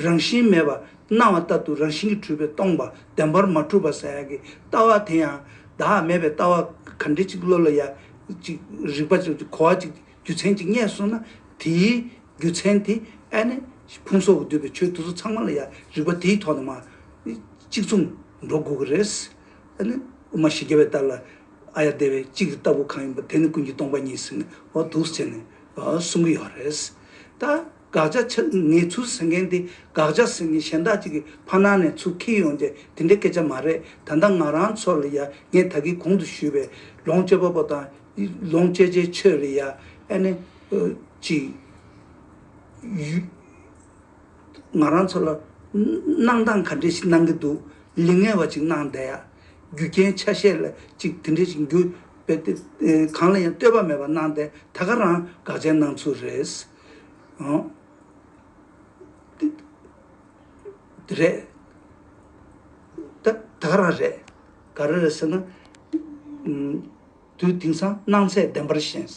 རང་བཞིན་མེད་པར་སྣང་བ་ལྟར་དུ་རང་བཞིན་གྱིས་འཁྲུལ་པས་སྟོང་པ་བདེན་པར་མ་གྲུབ་པར་ཟ་ཡ་གི་ལྟ་བ་དེ་ཡང་བདག་མེད་པའི་ལྟ་བ་ག་འདྲི་ཅིག་བློ་ལ་ཡ་ཅིག་རིག་པ་ཅིག་གོ་བ་ཅིག་རྒྱུ་མཚན་ཅིག་རྙེད་སོང་ན་དེའི་རྒྱུ་མཚན་དེ་ཨ་ནི་ཕུང་སོགས་ཀྱིས་བསྡུས་པའི་ཆོས་དེ་ཚོ་ཚང་མ་ལ་ཡ་རིག་པ་དེའི་ཐོག་ནས་མ་གཅིག་མཚུངས་འགྲོ་དགོས་ཀྱི་རེད། དཔེར་ན་དབུ་མ་ཞི་རྒྱ་བའི་ལྟར་ལ། ཨ་ཡ་བདེ་བའི་གཅིག་གི་ལྟ་བུ་གང་ཡིན་པ་དེ་ནི་ཀུན་གྱི་སྟོང་པ་ཉིད་ཟིན་ནོ་འདུག་ཟེར་ནས་གསུང་གི་ཡོད་རེད། ད་དགག་བྱ་ཆ་ངེས་ཚུལ་ཟེར་མཁན་དེ་དགག་བྱ་ཟེར་མཁན་གཞན་དག་ཅིག་གི་ཕ་ནང་ནས་ཚུར་ཁྱེར་ཡོང་རྗེས་དེ་འདྲའི་སྐད་ཆ་མ་རེད་ད་ལྟ་ང་རང་ཚོ་ལ་ཡ་ངས་ད་གིས་གོང་དུ་ཞུས་པའི་ལོངས་སྤྱོད་པ་པོ་དང་ལོངས་སྤྱད་བྱའི་ཆོས་ལ་ཡ་ཨེ་ནི། གཅིག། ང་རང་ཚོ་ལ་གནང་སྟངས་ག་འདྲས་ཤིག་གནང་གི་འདུག་ལི་ངེ་བ་ཅིག་གནང་བསྡད་ཡ། རྒྱུ་རྐྱེན་ཆ་ཤས་ལ་ཅིག་དེ་འདྲས་ཤིག་འགྱུར་བས་ཏེ། གང་ལ་ཡང་ལྟོས་པ་མེད་པར་གནང་བསྡད་ད་ག་རང་དགག་བྱའི་སྣང་ཚུལ་རེད། འདི་རེད། ད་ག་རང་རེད། ག་རེ་རེད་ཟེར་ན། དུས་དེང་སང་སྣང་ཚད་བདེན་པར་བཞེངས།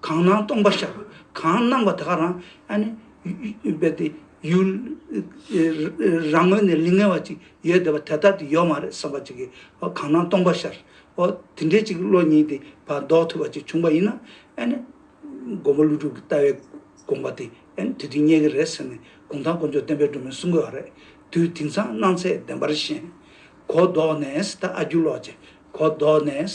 གང་སྣང་སྟོང་པ་ཤར། གང་སྣང་བ་དེ་ག་རང། རྦད་དེ། ཡུལ། རང་ངོས་ནས་ལིང་ངེ་བ་ཅིག་ཡོད་བསྡད་པ་དེ་ལྟར་དུ་ཡོད་མ་རེད་བསམ་པ་ཅིག་གིས་ཨོ་གང་སྣང་སྟོང་པ་ཤར། ཨོ། དེ་འདྲའི་ཅིག་བློ་གཉིས་དེ་བར་ལྡོག་ཐུབ་པ་ཅིག་བྱུང་བ་ཡིན་ན། མགོན་པོ་ཀླུ་སྒྲུབ་ཀྱི་ལྟ་བའི་དགོངས་པ་དེ། དེ་དུས་རྙེད་ཀྱི་རེད་ཟེར་ནས་དགུང་ཐང་དཀོན་མཆོག་བསྟན་པའི་སྒྲོན་མེ་གསུང་དགོས་བ་རེད། དུས་དེང་སང་སྣང་ཚད་བདེན་པར་ཞེན། གོ་ལྡོག་ནས། ད་ཨ་རྒྱུ་ལོག་ཅིག། གོ་ལྡོག་ནས།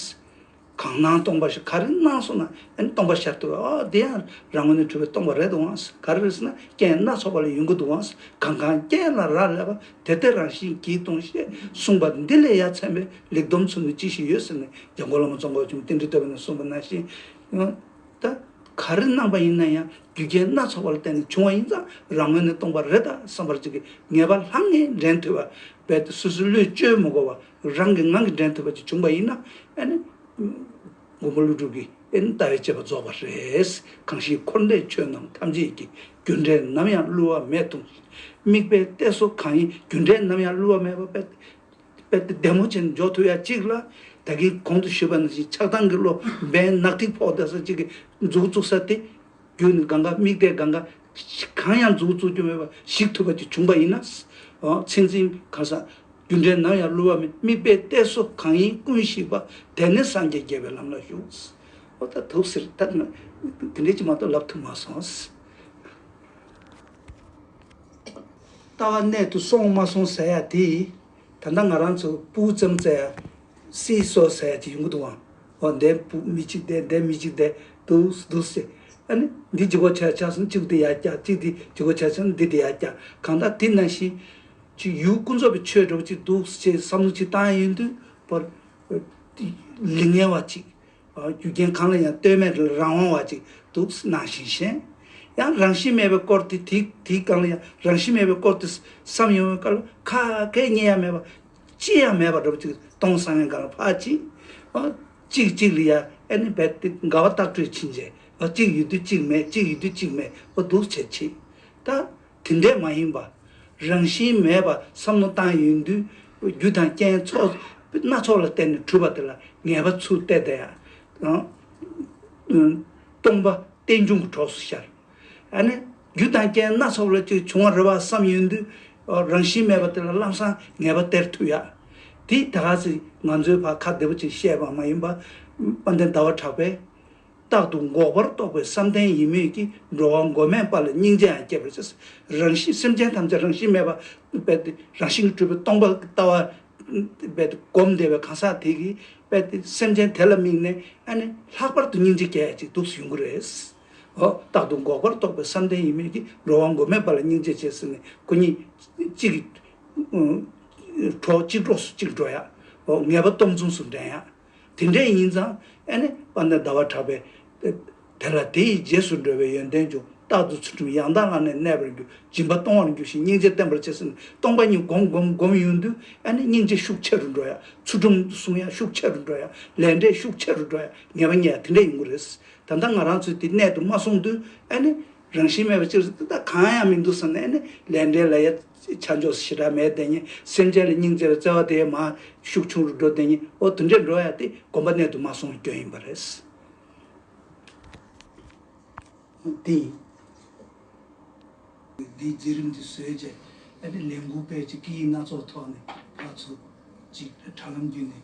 གང་སྣང་སྟོང་པ་ཞེས་ག་རེ་སྣང་སོང་ན་ཡང་སྟོང་པ་ཤར་དུ་འོ་དེ་ཡང་རང་ངོས་ནས་གྲུབ་པའི་སྟོང་པ་རེད་འོང་ག་རེ་རེད་ཟེར་ན་རྐྱེན་སྣ་ཚོགས་པ་ལས་ཡོང་གི་འདུག་འོང་གང་གང་རྐྱེན་ལ་རག་ལས་པ་དེ་ལྟའི་རང་བཞིན་གྱིས་སྟོང་ཞེས་གསུངས་པ་འདི་ལས་ཡ་མཚན་པའི་ལེགས་བསྡོམས་ཚུལ་ནི་ཅི་ཞིག་ཡོད་ཟེར་ན་རྒྱ་མགོ་བླ་མ་ཙོང་ཁ་ཆུང་རྟེན་འབྲེལ་བསྟོད་པ་ནས་གསུངས་པ་ནང་བཞིན་ད་ག་རེ་སྣང་པ་ཡིན་ན་ཡང་རྒྱུ་རྐྱེན་སྣ་ཚོགས་པ་ལ་བརྟེན་ནས་བྱུང་བ་ཡིན་ཙང་རང་ངོས་ནས་སྟོང་པ་རེད་ད་བསམ་པར་བྱེད་ཀྱི་ངེས་པ་ལྷང་ངེ་འདྲེན་ཐུབ་པ་རྦད་དེ་སུས་སུ་བློས་བཅོལ་མི་དགོས་པ། རང་གི་ངང་གིས་འདྲེན་ཐུབ་པ་ཅིག་བྱུང་བ་ཡིན་ན་ཨེ་ནི། མགོན་པོ་ཀླུ་སྒྲུབ་ཀྱིས་ཨེ་ནི་ལྟ་བའི་དཔྱད་པ་རྫོགས་པ་རེད། གང་ཞིག་འཁོར་འདས་ཆོས་རྣམས་ཐམས་ཅད་ཀྱི་རྒྱུ་འབྲས་ནམ་ཡང་བསླུ་བ་མེད་ཐུགས་ཀྱི་དམིགས་པའི་གཏད་སོ་གང་ཡིན་རྒྱུ་འབྲས་ནམ་ཡང་བསླུ་བ་མེད་པ་དཔེ་དེབ་བདེ་མོ་ཅན་འཇོག་ཐུབ་ཡ་གཅིག་ལ། ད་གིན་གོང་དུ་ཞུས་པ་ནང་བཞིན་ཆགས་སྡང་གི་བློ་འབེན་ནག་ཐིག་ཕོག་བསྡད་ས་གཅིག་གིས་མཛུག་བཙུགས་ས་དེ་རྒྱུ་ནི་གང་གཱ་དམིགས་བཟླས་གང་གཱ། གང་ཡང་རྫུ་བོ་བཙུགས་རྒྱུ་མེད་པར་ཞིག་ཐུབ་པ་ཅིག་བྱུང་པ་ཡིན་ན། ཚེ་འཛིན་གང་བསགས། རྒྱུ་འབྲས་ནམ་ཡང་བསླུ་བ་མེད་དམིགས་བཟླས་བཟླས་སོ་གང་ཡིན་ཀུན་ཞིག་པ། དེ་ནས་སངས་རྒྱས་དགྱེས་པའི་ལམ་ལ་ཞུགས། ཨོ་ད་ཐུགས་ཟེར་ད་ནི་དེ་འདྲས་ཀྱི་མ་གཏོགས་ལབ་ཐུབ་མ་སོང། ལྟ་བ་གནད་དུ་སོང་མ་སོང་ཟེར་ཡ་དེ། ད་ལྟ་ང་རང་ཚོ་སྤུའུ་ཙམ་བཙལ་ཡ་སྲིད་སོགས་ཟེར་ཡ་དེ་ཡོང་གི་འདུག་ཨང། ཨོ་འདས་པུ་མི་གཅིག་འདས་འདས་མི་གཅིག་འདས་དུས་དུས་ཏེ། ཨ་ནི་འདི་ཇི་གོ་ཆ་ཆ་སོང་གཅིག་འདི་ཡར་བཀྱག་གཅིག་འདི་ཇི་གོ་ཆ་ཆོང་འདི་འདི་ཡར་བཀྱག་གང་དག་དེ་ན་བཞིན། ཅིག་ཡུལ་ཀུན་རྫོབ་པའི་ཆོས་སྒྲུབ་ཅིག་དུས་ཅེས་བསམ་བློ་གཅིག་བཏང་ཡོད་དུས་པར། ལས་ངན་བ་གཅིག། རྒྱུ་རྐྱེན་གང་ལ་ཡང་ལྟོས་མེད་རང་དབང་བ་གཅིག་དུས་ན་བཞིན་གཞན། ཡང་རང་བཞིན་མེད་པའི་སྐོར་དེ་དེའི་གང་ལ་ཡང་རང་བཞིན་མེད་པའི་སྐོར་དུས་བསམ་ཡོང་བའི་སྐལ་བ་ཁ་ཁས་ཉེ་ཡ་མེད་པ། ཅི་ཡང་མེད་པར་སྒྲུབ་ཅིག་སྟོང་སང་ངེ་འགག་ལ་འཕགས་ཅིག། གཅིག་གཅིག་ལི་ཡཱ་ཨེ་ནི་བད་ཏི་འགག་བ་རྟག་སྤྲོས་ཕྱིན་ཅད། གཅིག་ཡུལ་དུས་གཅིག་མེད་གཅིག་ཡུལ་དུས་གཅིག་མེད་པོ་གདུག་བྱེད་ཕྱིན། ད་དེ་འདྲས་མ་ཡིན་པ། རང་བཞིན་མེད་པར་བསམ་མནོ་བཏང་ཡུལ་དུས་རྒྱུ་དང་རྐྱེན་ཚོགས་སྣ་ཚོགས་ལ་བརྟེན་ནས་གྲུབ་པ་དེ་ལ་ངེས་པ་ཚུལ་བསྟན་དེ། སྟོང་པ་རྟེན་འབྱུང་གི་གྲོགས་སུ་ཤར། རྒྱུ་དང་རྐྱེན་སྣ་ཚོགས་ལས་ཀྱི་བྱུང་བར་རེ་བ་བསམ་ཡོད་དུས། རང་བཞིན་མེད་པ་དེ་ལ་ལམ་བཟང་ངེས་པ་སྟེར་ཐུབ་ཡ། དེས་ད་ག་ཟེ་ང་ཚོའི་བར་ཁ་བདེ་པོ་ཅིག་བཤད་པ་མ་ཡིན་པ། དཔའ་ལྡན་ཟླ་བ་གྲགས་པས། རྟག་ཏུ་འགོག་པར་རྟོགས་པའི་བསམ་གཏན་ཡིན་མོད་ཀྱི་འགྲོ་བ་མགོན་མེད་པ་ལ་སྙིང་རྗེའང་སྐྱེ་བར་བྱེད། རང་བཞིན་སེམས་ཅན་ཐམས་ཅད་རང་བཞིན་མེད་པ་རྦད་དེ་རང་བཞིན་གྱི་སྤྲུལ་པའི་སྟོང་པ་ལྟ་བ། རྦད་དེ་བསྒོམ་བདེ་བའི་གང་ཟག་དེ་གིས་རྦད་དེ་སེམས་ཅན་དེ་ལ་དམིགས་ནས་ཨ་ནི་ལྷག་པར་དུ་སྙིང་རྗེ་སྐྱེ་ཡ་ཅིག་འདུག་ཡོང་གི་རེད། ཨོ། རྟག་ཏུ་འགོག་པར་རྟོགས་པའི་བསམ་གཏན་ཡིན་མོད་ཀྱི་འགྲོ་བ་མགོན་མེད་པ་ལ་སྙིང་རྗེ་ཆེ་ཟེར་ནས་སྐུ་ཉིད། གཅིག་གིས། གྲོགས་གཅིག་གྲོགས་སུ་གཅིག་འགྲོ་ཡ། ཨོ། ངེས་པ་སྟོབས་མཚུངས་སུ་འདྲེན་ཡ། དེ་འདྲས་ཡིན་ཙང། ཨེ་ནས་པ་ནས་ཟླ་བ་གྲགས་པས། དེ་ལ་དེ་ཡི་རྗེས་སུ་འགྲོ་བའི་ཡོན་ཏན་ཅུང་རྟག་ཏུ་ཚུལ་ཁྲིམས་ཡང་དག་བླངས་ནས་གནས་པར་འགྱུར་སྦྱིན་པ་གཏོང་བར་འགྱུར་ཞིང་སྙིང་རྗེ་བརྟན་པར་བྱེད་ཟེར་ནས་སྟོང་པ་ཉིད་བསྒོམ་བསྒོམ་བསྒོམ་ཡུན་དུ་ཨེ་ནས་སྙིང་རྗེ་ཤུགས་ཆེ་རུ་འགྲོ་ཡ། ཚུལ་ཁྲིམས་སྲུང་ཡ་ཤུགས་ཆེ་རུ་འགྲོ་ཡ། ལས་འབྲས་ཤུགས་ཆེ་རུ་འགྲོ་ཡ་ངེས་པ་རྙེད་ཡ་དེ་འདྲས་ཡོང་གི་རེད། ད་ལྟ་ང་རང་ཚོས་དེ་གནད་དུ་མ་སོང་དུས་ཨ་ནི་རང་བཞིན་མེད་པའི་ཕྱིར་ད་ལྟ་གང་ཡང་མི་འདུག་བསམ་ནས་ཨ་ནི་ལས་འབྲས་ལ་ཡ། ཆ་འཇོག་ཞེ་དྲག་མེད་དེ་ཉིད་སེམས་ཅན་ལ་སྙིང་བརྩེ་བའི་བརྩེ་བ་དེའི་མ་ཤུགས་ཆུང་རུ་འགྲོ་དེ་ཉིད་འོ་དུ་འདྲེ་འགྲོ་ཡ་དེ་གོམས་པ་གནད་དུ་མ་སོང་བའི་སྐྱོན་ཡིན་པ་རེད། དེ་ཡིན། འདིའི་རྗེས་རིམ་དེ་བཟོས་རྗེས་ཨ་ནི་ལས་འགུལ་སྤེལ་ཅིག་སྐད་ཡིག་སྣ་ཚོགས་ཐོག་ནས་ཕར་ཚུར་ཅིག་དྲ་ལམ་བརྒྱུད་ནས